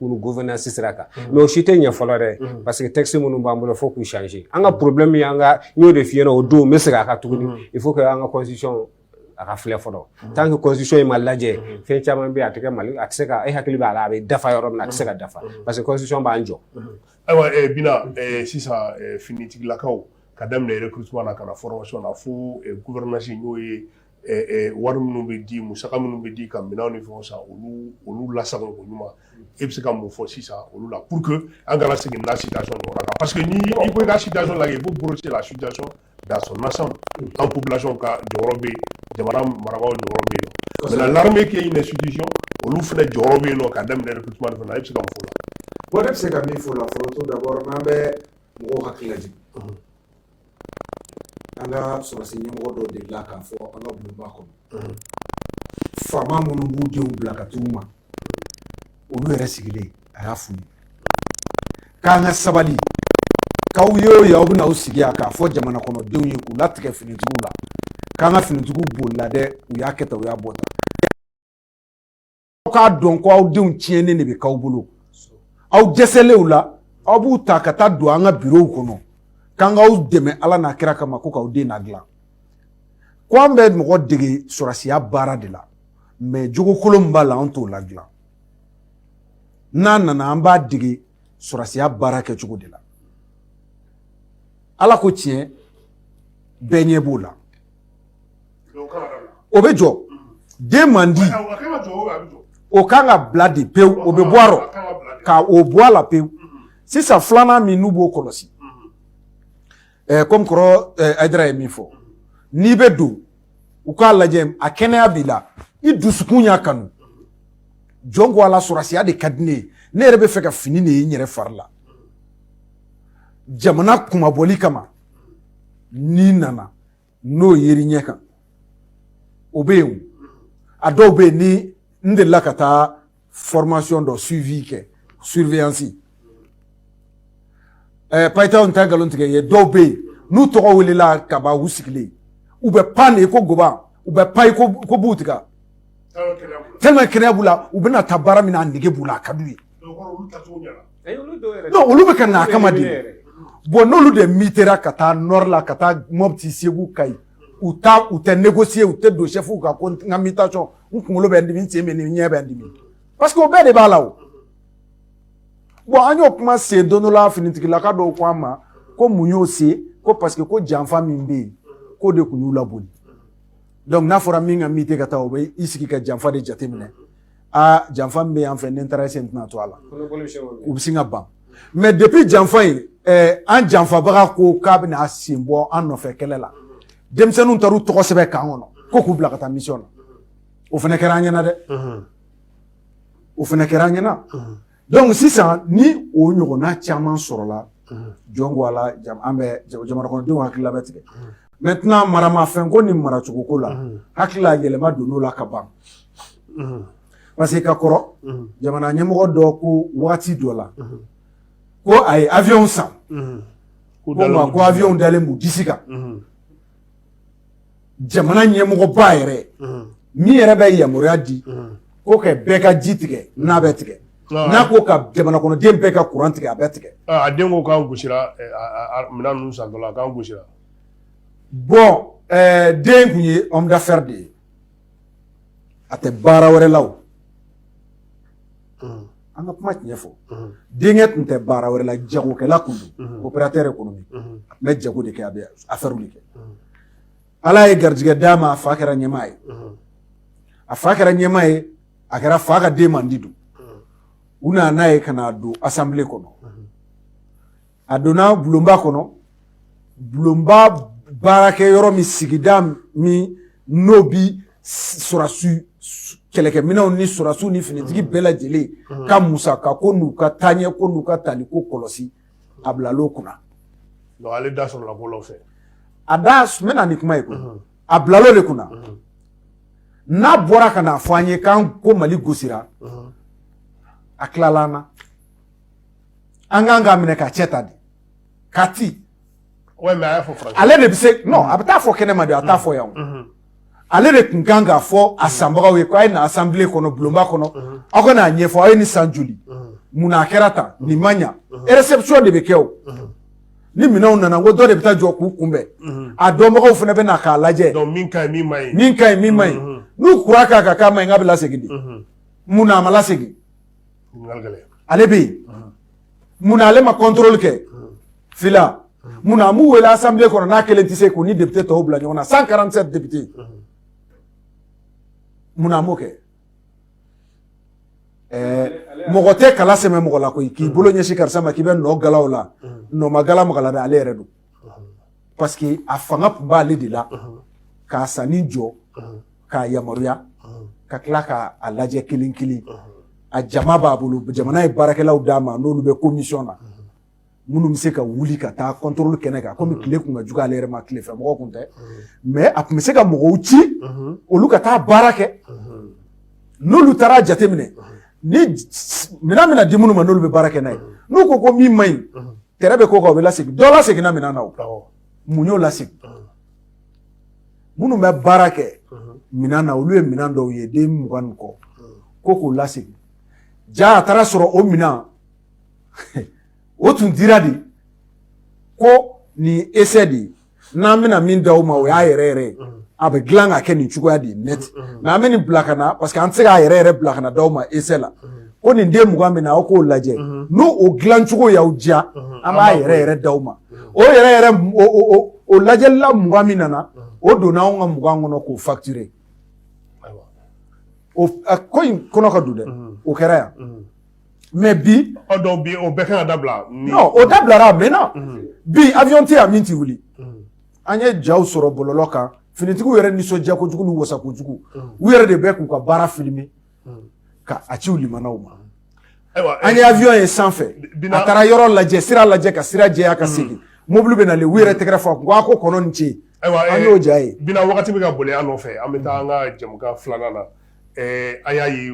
pour gouvernance sira kan mm-hmm. mais o si tɛ ɲɛ fɔlɔ dɛ mm-hmm. parce que texte minnu b'an bolo fo k'u changer an ka mm-hmm. problème y'an ka n y'o de f'i ɲɛna o don n bɛ segin a kan tuguni il faut que an ka constitution a ka filɛ fɔlɔ tant que constitution in ma lajɛ fɛn caman bɛ yen a tɛ kɛ mali a tɛ se ka e hakili b'a la a bɛ dafa yɔrɔ min na a tɛ se ka dafa parce que constitution b'an jɔ. ayiwa eh, bina eh, sisan eh, finitigilakaw ka daminɛ recrutement na ka na formation na fo gouvernance n'o ye wari minnu bɛ di musa minnu bɛ di ka minɛn ni fɔ sa olu olu lasa ko ɲuman e bɛ se ka mun fɔ sisan olu la pur que an kana segin la si parce que n i ko i ka si la i b'o bolo la su da sɔnnasa an ko bila ka jɔyɔrɔ bɛ jamana mara jɔyɔrɔ bɛ yen la bɛ ke ɲini sudisi olu fana jɔyɔrɔ bɛ yen nɔ ka daminɛ ku fana a bɛ se ka fɔ la bɛ se ka min fɔ la fɔlɔ to da n'an bɛ mɔgɔw hakili an ka sɔrɔsi ɲɛmɔgɔ dɔ delila k'a fɔ an ka bulonba kɔnɔ faama minnu b'u denw bila ka t'u ma olu yɛrɛ sigilen a y'a f'u ye k'an ka sabali k'aw ye o ye aw bɛna aw sigi yan k'a fɔ jamana kɔnɔdenw ye k'u latigɛ finitigiw la k'an ka finitigiw bolila dɛ u y'a kɛ tan u y'a bɔ tan aw k'a dɔn ko aw denw tiɲɛnen de bɛ k'aw bolo aw dɛsɛlen u la aw b'u ta ka taa don an ka birow kɔnɔ k'an k'aw dɛmɛ ala n'a kira kama ko k'aw den nadilan ko an bɛ mɔgɔ dege sɔrɔsiya baara de la mais jogo kolon min b'a la an t'o ladilan n'a nana an b'a dege sɔrɔsiya baara kɛcogo de la ala ko tiɲɛ bɛɛ ɲɛ b'o la o bɛ jɔ den man di o kan ka bila de pewu o bɛ bɔ a rɔ ka o bɔ a la pewu sisan filanan min n'u b'o kɔlɔsi kɔmi kɔrɔ ayidara ye min fɔ n'i bɛ don u k'a lajɛ a kɛnɛya b'i la i dusukun y'a kanu jɔn ko ala sɔrɔsiya de ka di ne ye ne yɛrɛ bɛ fɛ ka fini de ye n yɛrɛ fari la jamana kunmabɔli kama n'i nana n'o yeri ɲɛ kan o bɛ yen a dɔw bɛ yen ni n delila ka taa formation dɔ suivi kɛ surveillance ɛɛ payitaw ta nkalon tigɛ ye dɔw bɛ yen n'u tɔgɔ welela ka ban u sigilen u bɛ pan de ko goba u bɛ pan ko ko b'u tigɛ tellement kɛnɛya b'u la u bɛna taa baara min na a nege b'u la a ka d'u ye olu bɛ ka na a kama de bon n'olu de mitera ka taa nord la ka taa mɔti segu kayi u taa u tɛ négocier u tɛ don chef kan ko n ka mutation n kunkolo bɛ n dimi n sen bɛ n dimi n ɲɛ bɛ n dimi parce que o bɛɛ de b'a la o bon an y'o kuma sen don dɔ la finitigilaka dɔw ko an ma ko mun y'o se ko parce que ko janfa min bɛ yen k'o de tun y'u laboli dɔnku n'a fɔra min ka mite ka taa o bɛ i sigi ka janfa de jateminɛ aa janfa min bɛ yan fɛ ni n taara sen tɛna to a la u bɛ sin ka ban mais depuis janfa in an janfabaga ko k'a bɛna a sen bɔ an nɔfɛ kɛlɛ la denmisɛnninw taara u tɔgɔ sɛbɛn kan kɔnɔ ko k'u bila ka taa mission na o fana kɛra an ɲɛna dɛ o fana kɛra an ɲɛna Dɔnku sisan ni o ɲɔgɔnna caman sɔrɔla jɔn ko ala an bɛ jamana kɔnɔdenw hakilila bɛ tigɛ maintenant maramafɛn ko ni maracogoko la hakilila yɛlɛma donn'o la ka ban parce que ka kɔrɔ jamana ɲɛmɔgɔ dɔ ko waati dɔ la ko a ye avion san ko avion dalen b'u disi kan jamana ɲɛmɔgɔba yɛrɛ min yɛrɛ bɛ yamaruya di ko ka bɛɛ ka ji tigɛ n'a bɛ tigɛ n'a ko ka jamana kɔnɔden bɛɛ ka kuran tigɛ a bɛ tigɛ a den ko k'an gosira minɛn san dɔ la k'an gosira bon den kun ye homme d'affaires de ye a tɛ baara wɛrɛ la an ka kuma tiɲɛ fɔ denkɛ tun tɛ baara wɛrɛ la jagokɛla kun don opérateur économique a tun bɛ jago de kɛ a bɛ affaires de kɛ ala ye garijɛgɛ d'a ma a fa kɛra ɲɛmaa ye a fa kɛra ɲɛmaa ye a kɛra fa ka den mandi don u nana n'a ye ka n'a don assemblée kɔnɔ a donna bulonba kɔnɔ bulonba baarakɛ yɔrɔ min sigida min n'o bi sɔrɔdasi kɛlɛkɛminɛnw ni sɔrɔdasiw ni finitigi bɛɛ lajɛlen ka musaka ko n'u ka taaɲɛ ko n'u ka tali ko kɔlɔsi a bilal'o kunna. Donc ale da sɔrɔla bɔlɔn fɛ. A da n bɛna ni kuma ye koyi a bilal'o de kunna n'a bɔra ka n'a fɔ an ye k'an ko Mali gosira a tilala an na. an kan k'a minɛ ka cɛ ta de ka ti ale de bɛ se non a bɛ taa fɔ kɛnɛ ma de a t'a fɔ yan mm-hmm. ale de tun kan k'a fɔ a sanbagaw ye ko a ye na asanbile kɔnɔ bulonba kɔnɔ mm-hmm. aw ka n'a ɲɛfɔ anw ye nin san joli mm-hmm. mun na a kɛra tan nin ma ɲa réception de bɛ kɛ o ni minɛnw nana ko dɔ de bɛ taa jɔ k'u kunbɛn a dɔnbagaw fana bɛ na k'a lajɛ min ka ɲi min man ɲi min ka ɲi min man ɲi n'u kura k'a kan k'a man ɲi k'a bɛ lasegin de mun na a ma lasegin ale bɛ yen mun na ale ma kɔntɔrɔli kɛ fila mun na a m'u wele asanbile kɔnɔ n'a kelen tɛ se k'u ni depite tɔw bila ɲɔgɔn na cent quarante-sept depite mun na a m'o kɛ mɔgɔ tɛ kala sɛmɛ mɔgɔ la koyi k'i bolo ɲɛsin karisa ma k'i bɛ nɔ gala u la nɔ ma gala mɔgɔ la dɛ ale yɛrɛ don parce que a fanga tun b'ale de la k'a sanni jɔ k'a yamaruya ka tila k'a lajɛ kelen kelen a jama b'a bolo jamana ye baarakɛlaw d'a ma n'olu bɛ komisɔn na minnu bɛ se ka wuli ka taa kɔntɔrɔli kɛnɛ kan kɔmi tile kun ka jugu ale yɛrɛ ma tile fɛ mɔgɔ kun tɛ mais a tun bɛ se ka mɔgɔw ci olu ka taa baara kɛ n'olu taara jateminɛ ni minɛn bɛna di minnu ma n'olu bɛ baara kɛ n'a ye n'u ko ko min man ɲi tɛrɛ bɛ k'o kan o bɛ lasegin dɔ laseginna minɛn na o mun y'o lasegin minnu bɛ baara kɛ minɛn na olu ye minɛn dɔw ye den mugan ni kɔ ko k'o lasegin jaa a taara sɔrɔ o minɛn o tun dira de ko nin essai de ye n'an bɛna min d'aw ma o y'a yɛrɛ yɛrɛ ye a bɛ dilan ka kɛ nin cogoya de ye net mais an bɛ nin bila ka na parce que an tɛ se k'a yɛrɛ yɛrɛ bila ka na d'aw ma essai la ko nin den mugan bɛ na aw k'o lajɛ n'o o dilancogo y'aw diya an b'a yɛrɛ yɛrɛ d'aw ma o yɛrɛ yɛrɛ o lajɛlila mugan min nana o donna anw ka mugan kɔnɔ k'o facturer ko in kɔnɔ ka don dɛ o kɛra yan mais bi donc bi o bɛɛ kan ka dabila non o dabilara maintenant mhm. bi avion tɛ yan min tɛ wuli mhm. an ye jaw sɔrɔ bɔlɔlɔ kan finitigiw yɛrɛ nisɔndiya kojugu ni wasa kojugu mhm. u yɛrɛ de bɛ k'u ka baara filmer ka a ci u limanaw ma ayiwa an ye avion ye sanfɛ a taara yɔrɔ lajɛ sira lajɛ ka sira jɛya ka segin mobili bɛ nalen u yɛrɛ tɛgɛrɛ fɔ a kun ko a ko kɔnɔ ni ce an y'o ja ye bina wagati bɛ ka boli an nɔfɛ an bɛ taa an ka jɛmukan filanan na Ɛɛ an y'a ye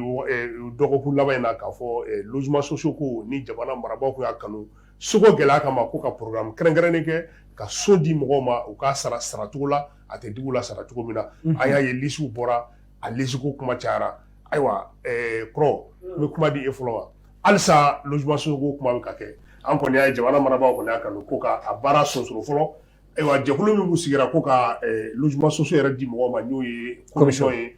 dɔgɔkun laban in na k'a fɔ logement sociaux ko ni jamana marabagaw y'a kanu soko gɛlɛya kama ko ka programme kɛrɛnkɛrɛnnen kɛ ka so di mɔgɔw ma u k'a sara saracogo la a tɛ digi u la sara cogo min na an y'a ye lisiw bɔra a lisiko kuma cayara ayiwa kɔrɔ n bɛ kuma di e fɔlɔ ma halisa logement sociaux ko kuma bɛ ka kɛ an kɔni y'a ye jamana marabagaw kɔni y'a kanu ko ka baara sonsoro fɔlɔ ayiwa jɛkulu min sigira ko ka logement sociaux yɛrɛ di mɔgɔ ma n'o ye komisɔn ye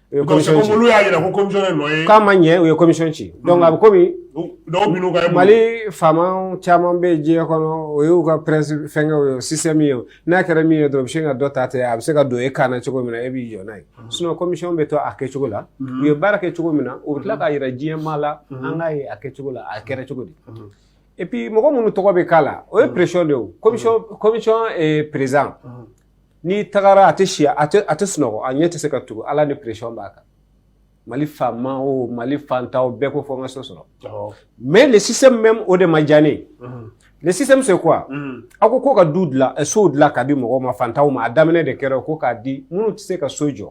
U ye commission ci. Donc c'est comme olu y'a jira ko commission ye nɔ ye. K'a ma ɲɛ u ye commission ci. Donc mm-hmm. a bɛ komi. Dɔw bin'u ka. Mali faamaw caman bɛ diɲɛ kɔnɔ o y'u ka principe fɛnkɛw ye o système ye o n'a kɛra min ye dɔrɔn u bɛ sin ka dɔ ta ten a bɛ se ka don e kan na cogo min na e b'i jɔ n'a ye. Mm-hmm. Sinon commission bɛ to a kɛcogo la. Mm-hmm. U ye baara kɛ cogo min na u bɛ tila k'a jira diɲɛ maa la an k'a ye a kɛcogo la a kɛra cogo di. Et puis mɔgɔ minnu tɔgɔ bɛ k'a la o ye pression de ye o commission commission président. n'i tagara a tɛ si a tɛ a tɛ sunɔgɔ a ɲɛ tɛ se ka tugu ala ni pression b'a kan mali faama o mali fantaw bɛɛ ko fɔ n ka so sɔrɔ mais le système même o de ma diya ne ye le système c'est quoi aw ko ko ka du dilan eh, sow dilan ka di mɔgɔw ma fantaw ma a daminɛ de kɛra ko k'a di minnu tɛ se ka so jɔ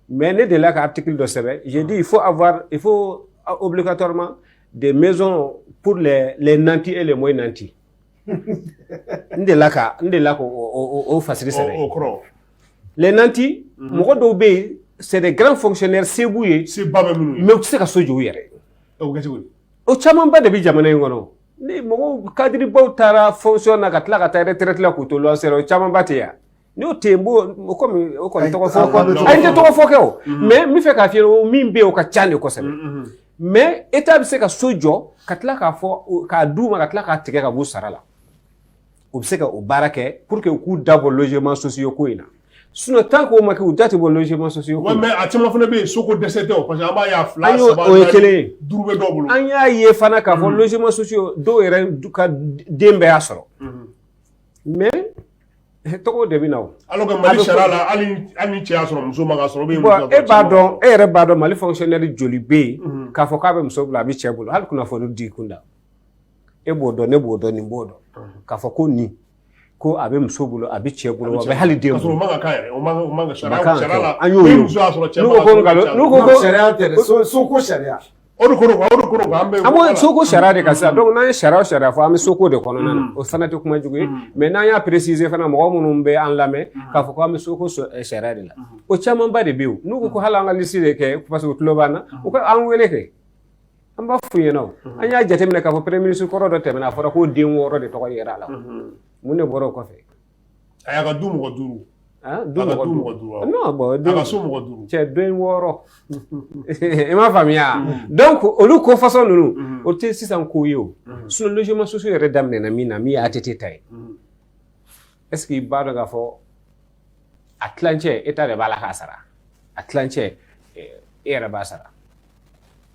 mais ne delila ka article dɔ sɛbɛn j'ai dit il faut avoir il faut euh, obligatoirement des maisons pour les, les nantis et les moins nantis n delila ka n delila ka o fasiri sɛbɛn o kɔrɔ les nantis mɔgɔ dɔw bɛ yen c'est des grands fonctionnaires se b'u ye mais u tɛ se ka so jɔ u yɛrɛ o camanba de bɛ jamana in kɔnɔ ni mɔgɔw kadiribaw taara fonction na ka tila ka taa retraite la k'u to luwanse la o camanba tɛ yan N'o tɛ yen o kɔmi o kɔni tɔgɔ a ye n tɛ tɔgɔ fɔ kɛ o mais n b'a fɛ k'a f'i ye o min bɛ yen o ka ca de kosɛbɛ mais état bɛ se ka so jɔ ka tila k'a fɔ k'a d'u ma ka tila k'a tigɛ ka b'u sara la u bɛ se ka o baara kɛ pour que u k'u dabɔ logement sociaux ko in na sinon tant que o ma kɛ u da tɛ bɔ logement sociaux mais a caman fana bɛ yen so ko dɛsɛ tɛ parce que an b'a ye a fila o ye kelen duuru bɛ dɔw bolo an y'a ye fana k'a fɔ logement sociaux dɔw yɛrɛ ka den bɛɛ y'a sɔrɔ mais Tɔgɔ de bɛ na alors que mali sariya la hali ni cɛ y'a sɔrɔ muso man k'a sɔrɔ e b'a dɔn e yɛrɛ b'a dɔn mali fonctionnaire joli bɛ yen k'a fɔ k'a bɛ muso bolo a bɛ cɛ bolo hali kunnafonidi kunda e b'o dɔn ne b'o dɔn nin b'o dɔn k'a fɔ ko nin ko a bɛ muso bolo a bɛ cɛ bolo hali hali cɛ O de kɔrɔ o de kɔrɔ an bɛ an b'o soko sariya de kan sisan donc n'an ye sariya o sariya fɔ an bɛ soko de kɔnɔna na o fana tɛ kuma jugu ye mais n'an y'a préciser fana mɔgɔ minnu bɛ an lamɛn k'a fɔ an bɛ soko sariya de la o camanba de bɛ yen n'u ko hali an ka liste de kɛ parce que u tulo b'an na u ka an wele kɛ an b'a f'u ɲɛna o an y'a jateminɛ k'a fɔ premier ministre kɔrɔ dɔ tɛmɛna a fɔra ko den wɔɔrɔ de tɔgɔ yera a la mun de bɔra o kɔfɛ A y'a ka du mɔgɔ duuru du so cɛ den wɔɔrɔ i m'a faamuya donc olu ko façon ninnu o tɛ sisan ko ye o sinon logement sociaux yɛrɛ daminɛna min na min ye ATT ta ye est-ce que i b'a dɔn k'a fɔ a tilancɛ état de b'a la k'a sara a tilancɛ e yɛrɛ b'a sara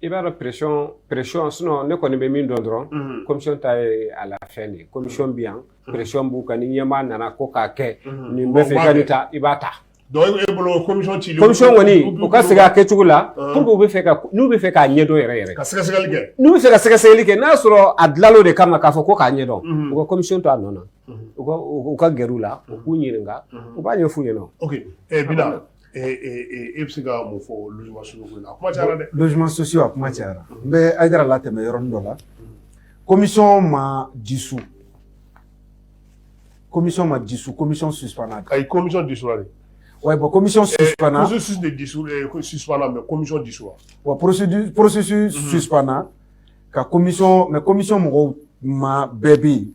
i b'a dɔn pression pression sinon ne kɔni bɛ min dɔn dɔrɔn mhm. commission ta ye a la fɛn de ye commission bɛ yan mhm. pression b'u kan ni ɲɛmaa nana ko k'a kɛ mhm. nin bɛ fɛ ka nin ta i b'a ta donc e bolo commission cilen commission kɔni u ka segin a kɛcogo la ah. pour que u bɛ fɛ ka n'u bɛ fɛ k'a ɲɛdɔn yɛrɛ yɛrɛ ka sɛgɛsɛgɛli kɛ n'u bɛ fɛ ka sɛgɛsɛgɛli kɛ n'a sɔrɔ a dilal'o de kama k'a fɔ ko k'a ɲɛdɔn u ka commission to a nɔ na u ka gɛrɛ u la u k'u ɲininka u b'a ɲɛf'u ɲɛna ok eh, bila e bɛ se ka mun fɔ susi a kuma cayara n bɛ a jira la tɛmɛ yɔrɔ dɔ la komi ma disu komi ma disu komi su ayi komi disu wa bɔn komi susu wa porosi susu ka komi mɛ komi mɔgɔw ma bɛɛ bɛ yen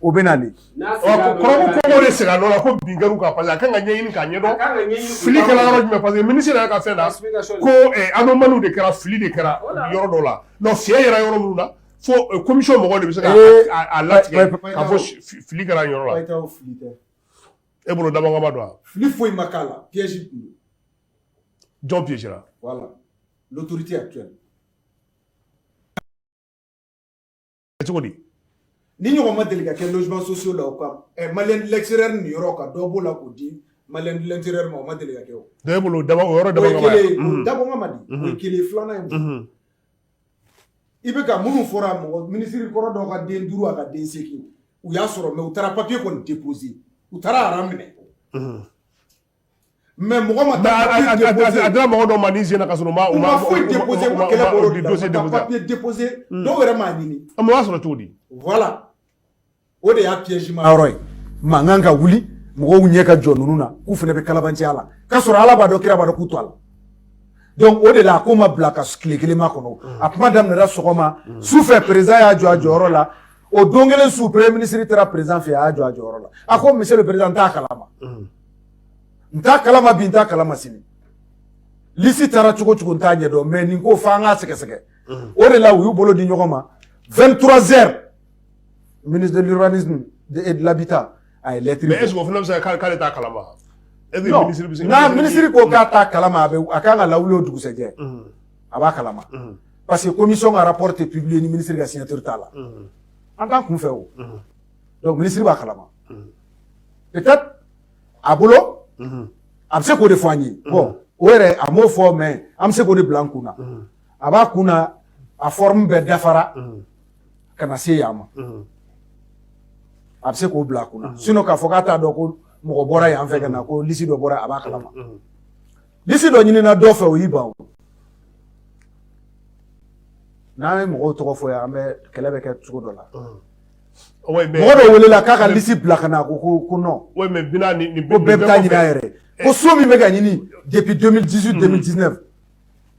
o bɛ na de kɔrɔ de sira la ko bin ka parce a ka kan k'a ɲɛɲini k'a ɲɛdɔn fili kɛra yɔrɔ jumɛn parce que ministre ka fɛn la ko anomalie de kɛra fili de kɛra yɔrɔ dɔ la mais fiɲɛ yera yɔrɔ minnu na fo commission mɔgɔ de bɛ se k'a latigɛ k'a fɔ fili kɛra yɔrɔ la e bolo dabɔ kama don a fili foyi ma k'a la piège jɔn piège la voilà l'autorité actuelle cogo di nin ɲɔgɔn ma deli ka kɛ logement sociaux la o kan ɛ malien de l'intérieur niyɔrɔ ka dɔ b'o la k'o di malien de l'extérieur ma o ma deli ka kɛ o dɔ e bolo o dabɔ o yɔrɔ dabɔ o ye kama kelen ye o Mhm. dabɔ kama de o Mhm. ye kelen ye filanan ye mun ye? Mhm. i bɛ ka minnu fɔra mɔgɔ minisiri kɔrɔ dɔ ka den duuru a ka den seegin u y'a sɔrɔ mais u taara papiye kɔni depoze u taara aran minɛ Mhm. mais mɔgɔ ma a dira mɔgɔ dɔ ma nin sen na k'a sɔrɔ u ma foyi déposé ko kɛlɛ bolo de dossier déposé papier déposé dɔw yɛrɛ m'a ɲini a ma sɔrɔ cogo di voilà o de y'a piège ma yɔrɔ ye mankan ka wuli mɔgɔw ɲɛ ka jɔ ninnu na k'u fana bɛ kalabanciya la k'a sɔrɔ ala b'a dɔn kira b'a dɔn k'u to a la donc o de la a ko ma bila ka tile kelen makɔnɔ a kuma daminɛra sɔgɔma su fɛ président y'a jɔ a jɔyɔrɔ la o don kelen su premier ministre taara président fɛ a y'a jɔ a jɔyɔrɔ la a ko monsieur le président n t'a kalama n t'a kalama bi n t'a kalama sini lisi taara cogo cogo n t'a ɲɛdɔn mais nin ko fo an k'a sɛgɛsɛgɛ o de la u y'u bolo di ɲɔgɔn ma 23 heures ministre de l'urbanisme et de l'habitat a ye lɛtiri mais est ce que o fana bɛ se ka k'ale t'a kalama n'a minisiri ko k'a t'a kalama a ka kan ka lawuli o dugusɛjɛ a b'a kalama parce que commission ka rapport tɛ publier ni minisiri ka signature t'a la an t'a kun fɛ o donc minisiri b'a kalama peut-être a bolo a bɛ se k'o de fɔ an ye bon o yɛrɛ a m'o fɔ mais an bɛ se k'o de bila an kun na a b'a kun na a forme bɛɛ dafara ka na se yan ma a bɛ se k'o bila a kun na sinon k'a fɔ k'a t'a dɔn ko mɔgɔ bɔra yan fɛ ka na ko lisi dɔ bɔra a b'a kalama lisi dɔ ɲinina dɔ fɛ o y'i ban o n'an ye mɔgɔw tɔgɔ fɔ yan an bɛ kɛlɛ bɛ kɛ cogo dɔ la mɔgɔ dɔ welela k'a ka lisi bila ka na ko ko ko non ko bɛɛ bɛ taa ɲini a yɛrɛ ko so min bɛ ka ɲini depuis 2018 2019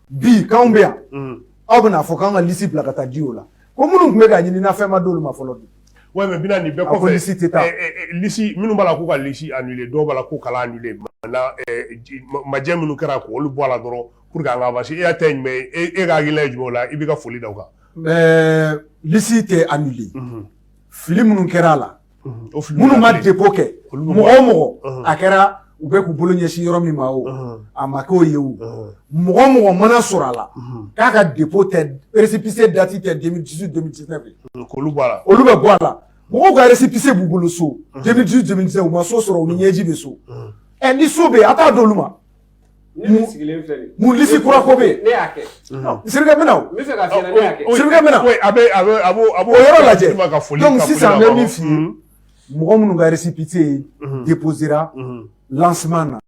bi k'anw bɛ yan aw bɛna fɔ k'an ka lisi bila ka taa di o la ko minnu tun bɛ ka ɲini na fɛn ma d'olu ma fɔlɔ bi Ouais, mais Bina, nin bɛɛ kɔfɛ lisi tɛ taa lisi minnu b'a la k'u ka lisi annulé dɔw b'a la k'u kana annulé maintenant majɛ minnu kɛra k'olu bɔ a la dɔrɔn pour que an ka avancer e y'a ta ye jumɛn ye e ka hakilina ye jumɛn o la i b'i ka foli da o kan Ɛɛ lisi tɛ annulé fili minnu kɛra a la minnu ma dépôt kɛ mɔgɔ o mɔgɔ a kɛra u bɛ k'u bolo ɲɛsin yɔrɔ min ma o a ma k'o ye o mɔgɔ o mɔgɔ mana sɔrɔ a la k'a ka dépôt tɛ récépissé dati tɛ 2018 2019 olu bɛ bɔ a la mɔgɔw ka récépissé b'u bolo so 2018 2019 u ma so sɔrɔ u ni ɲɛji bɛ so ɛ ni so bɛ yen a t'a d'olu ma Ne sigilen filɛ nin ye mun lisi kura ko bɛ yen ne y'a kɛ Sidiki n bɛ na o n bɛ fɛ k'a f'i ɲɛna ne y'a kɛ Sidiki n bɛ na oui a bɛ a bɛ a b'o a b'o o yɔrɔ lajɛ d'i ma ka foli donc sisan n bɛ min f'i ye mɔgɔ minnu ka récépissé déposéra lancement na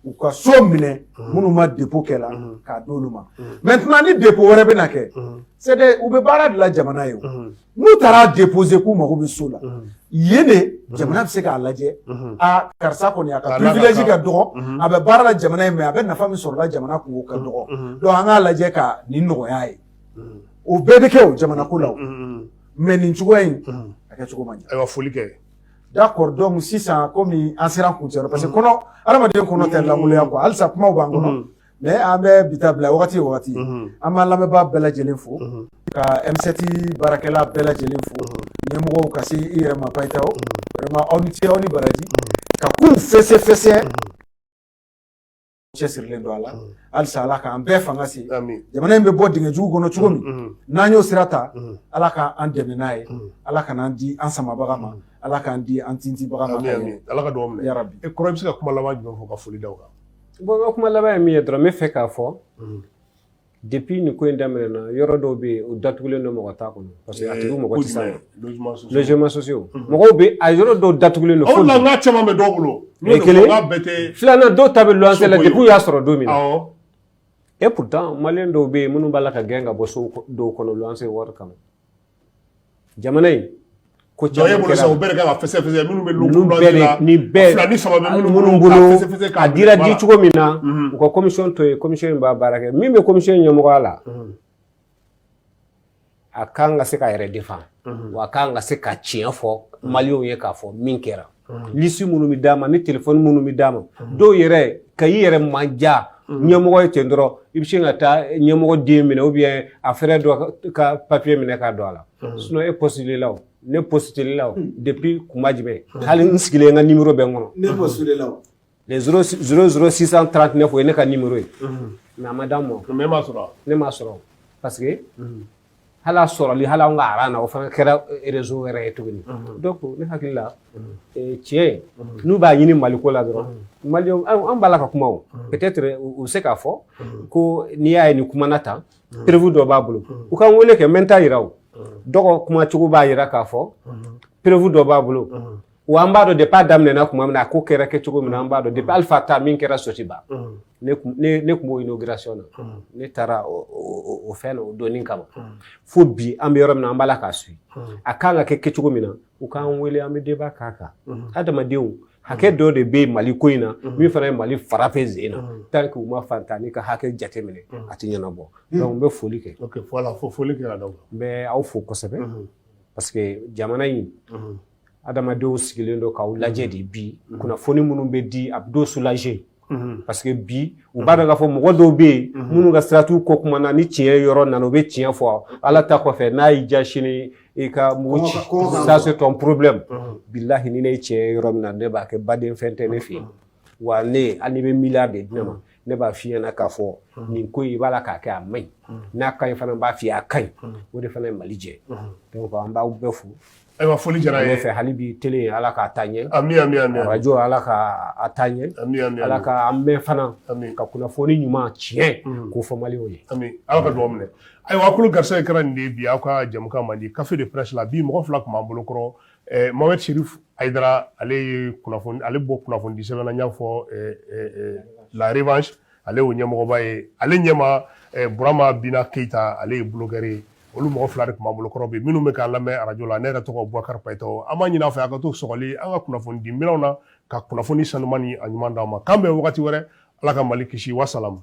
u ka so minɛ minnu ma dépôt kɛ la k'a d'olu ma maintenant ni dépôt wɛrɛ bɛna kɛ c'est des u bɛ baara de la jamana ye o. n'u taara déposer k'u mago bɛ so la yen de jamana bɛ se k'a lajɛ aa karisa kɔni a ka privilège ka dɔgɔn a bɛ baara la jamana ye mais a bɛ nafa min sɔrɔ jamana kun o ka dɔgɔn donc an k'a lajɛ ka nin nɔgɔya ye o bɛɛ bɛ kɛ o jamana ko la mais nin cogoya in a kɛ cogo man ɲi ayiwa foli kɛ d'accord donc sisan kɔmi an sera kuncɛ parce que kɔnɔ adamaden kɔnɔ tɛ lankolonya quoi halisa kuma b'an kɔnɔ mais an bɛ bi ta bila wagati wagati an b'an lamɛnbaa bɛɛ lajɛlen fo ka M7 baarakɛla bɛɛ lajɛlen fo ɲɛmɔgɔw ka se i yɛrɛ ma bayita aw ni ce aw ni baraji ka kow fɛsɛfɛsɛ cɛsirilen don a la halisa ala k'an bɛɛ fanga se jamana in bɛ bɔ dingɛ jugu kɔnɔ cogo min n'an y'o sira ta ala k'an dɛmɛ n'a ye ala kan'an di an samabaga ma ala k'an di an tintibaga ma ala ka dugawu minɛ yarabi kɔrɔ i bɛ se ka kuma laban jumɛn fɔ ka foli d'a kan Bon n ka kuma laban ye min ye dɔrɔn n bɛ fɛ k'a fɔ depuis nin ko in daminɛna yɔrɔ dɔw bɛ yen u datugulen don mɔgɔ t'a kɔnɔ parce que a tigi mɔgɔ tɛ s'a ma logements sociaux mɔgɔw bɛ a yɔrɔ dɔw datugulen don. O de la n k'a caman bɛ dɔw bolo. O ye kelen ye filanan dɔw ta bɛ luwanse la depuis u y'a sɔrɔ don min na et pourtant maliyɛn dɔw bɛ yen minnu b'a la ka gɛn ka bɔ so dɔw kɔnɔ luwanse wari kama. jamana in ko caman kɛra bolo sa u bɛɛ de kan ka fɛsɛfɛsɛ minnu bɛ luwanse la ni bɛɛ fila ni saba bɛ minnu bolo a dira di cogo min na u ka komisɔn to yen komisɔn in b'a baara kɛ min bɛ komisɔn in ɲɛmɔgɔya la a kan ka se k'a yɛrɛ defan wa a kan ka se ka tiɲɛ fɔ maliyɛnw ye k'a fɔ min kɛra lisi minnu bɛ d'a ma ni telefɔni minnu bɛ d'a ma dɔw yɛrɛ ka i yɛrɛ man ja ɲɛmɔgɔ ye ten dɔrɔn i bɛ se ka taa ɲɛmɔgɔ den minɛ ou bien a frère dɔ ka papiye minɛ k'a don a la sinɔn e postulé la o ne postulé la o depi kuma jumɛn hali n sigilen n ka nimoro bɛ n kɔnɔ ne postulé la o le 00639 o ye ne ka nimero ye mɛ a ma d'a ma ne m'a sɔrɔ ne m'a sɔrɔ parce que hali a sɔrɔli hali anw ka aran na o fana kɛra rezo wɛrɛ ye tuguni donc ne hakili la tiɲɛ n'u b'a ɲini maliko la dɔrɔn maliyɛnw an b'a la ka kuma o peut-être u bɛ se k'a fɔ ko n'i y'a ye nin kumana tan perevu dɔ b'a bolo u ka n wele kɛ n bɛ n ta yira o dɔgɔ kuma cogo b'a yira k'a fɔ perevu dɔ b'a bolo Wa an b'a dɔn depuis a daminɛ na tuma min na a ko kɛra kɛ cogo min na an b'a dɔn depuis Alifa ta min kɛra Sotiba ne tun ne ne tun b'o inauguration na ne taara o o o fɛn na o donni kama fo bi an bɛ yɔrɔ min na an b'a la k'a suit a kan ka kɛ kɛcogo min na u k'an wele an bɛ débat k'a kan hadamadenw hakɛ dɔ de bɛ Mali ko in na min fana ye Mali fara fɛ sen na tant que u ma faantannin ka hakɛ jateminɛ a tɛ ɲɛnabɔ donc n bɛ foli kɛ ok voilà fo foli kɛra donc n bɛ aw fo kosɛbɛ parce que jamana in adamadenw sigilen don k'aw lajɛ de bi mhm. kunnafoni minnu bɛ di a bɛ dɔw sulaje mhm. parce que bi u b'a dɔn k'a fɔ mɔgɔ dɔw bɛ yen mhm. minnu ka sira t'u kɔkuma na ni tiɲɛ yɔrɔ nana u bɛ tiɲɛ fɔ ala ta kɔfɛ n'a y'i ja sini i ka mugu ci ça c'est ton problème bilahi ni ne ye tiɲɛ yɔrɔ min na ne b'a kɛ baden fɛn tɛ ne fɛ yen wa ne hali n'i bɛ miliyari de di ne ma ne b'a f'i ɲɛna k'a fɔ nin ko in i b'a la k'a kɛ a man ɲi n'a ka ɲi fana b'a f'i ye a ka ɲi o de fana ye mali jɛ donc an b'aw bɛɛ fo Ayiwa foli jara ye fɛ hali bi tele ala k'a taa ɲɛ ami arajɔ ala k'a taa ɲɛ ala k'an mɛɛn fana ka kunnafoni ɲuman tiɲɛ k'o fɔ maliyɛnw ye ami ala ka dugawu minɛ ayiwa a tulo garisɛgɛ kɛra nin de ye bi aw ka jɛmukan mandi café de presse la bi mɔgɔ fila tun b'an bolokɔrɔ Mohamed Cherif Haidara ale ye ale bɔ kunnafonidi sɛbɛn na n y'a fɔ la revanche ale y'o ɲɛmɔgɔba ye ale ɲɛma eh, burama bina keyita ale ye bulɔgɛri ye olu mɔgɔ fila de tun b'an bolo kɔrɔ bi minnu bɛ k'an lamɛn arajo la ne yɛrɛ tɔgɔ bubakari payitaw an b'a ɲini aw fɛ a ka to sɔgɔli an ka kunnafoni di minɛnw na ka kunnafoni sanuman ni a ɲuman d'aw ma k'an bɛn wagati wɛrɛ ala ka mali kisi wasalamu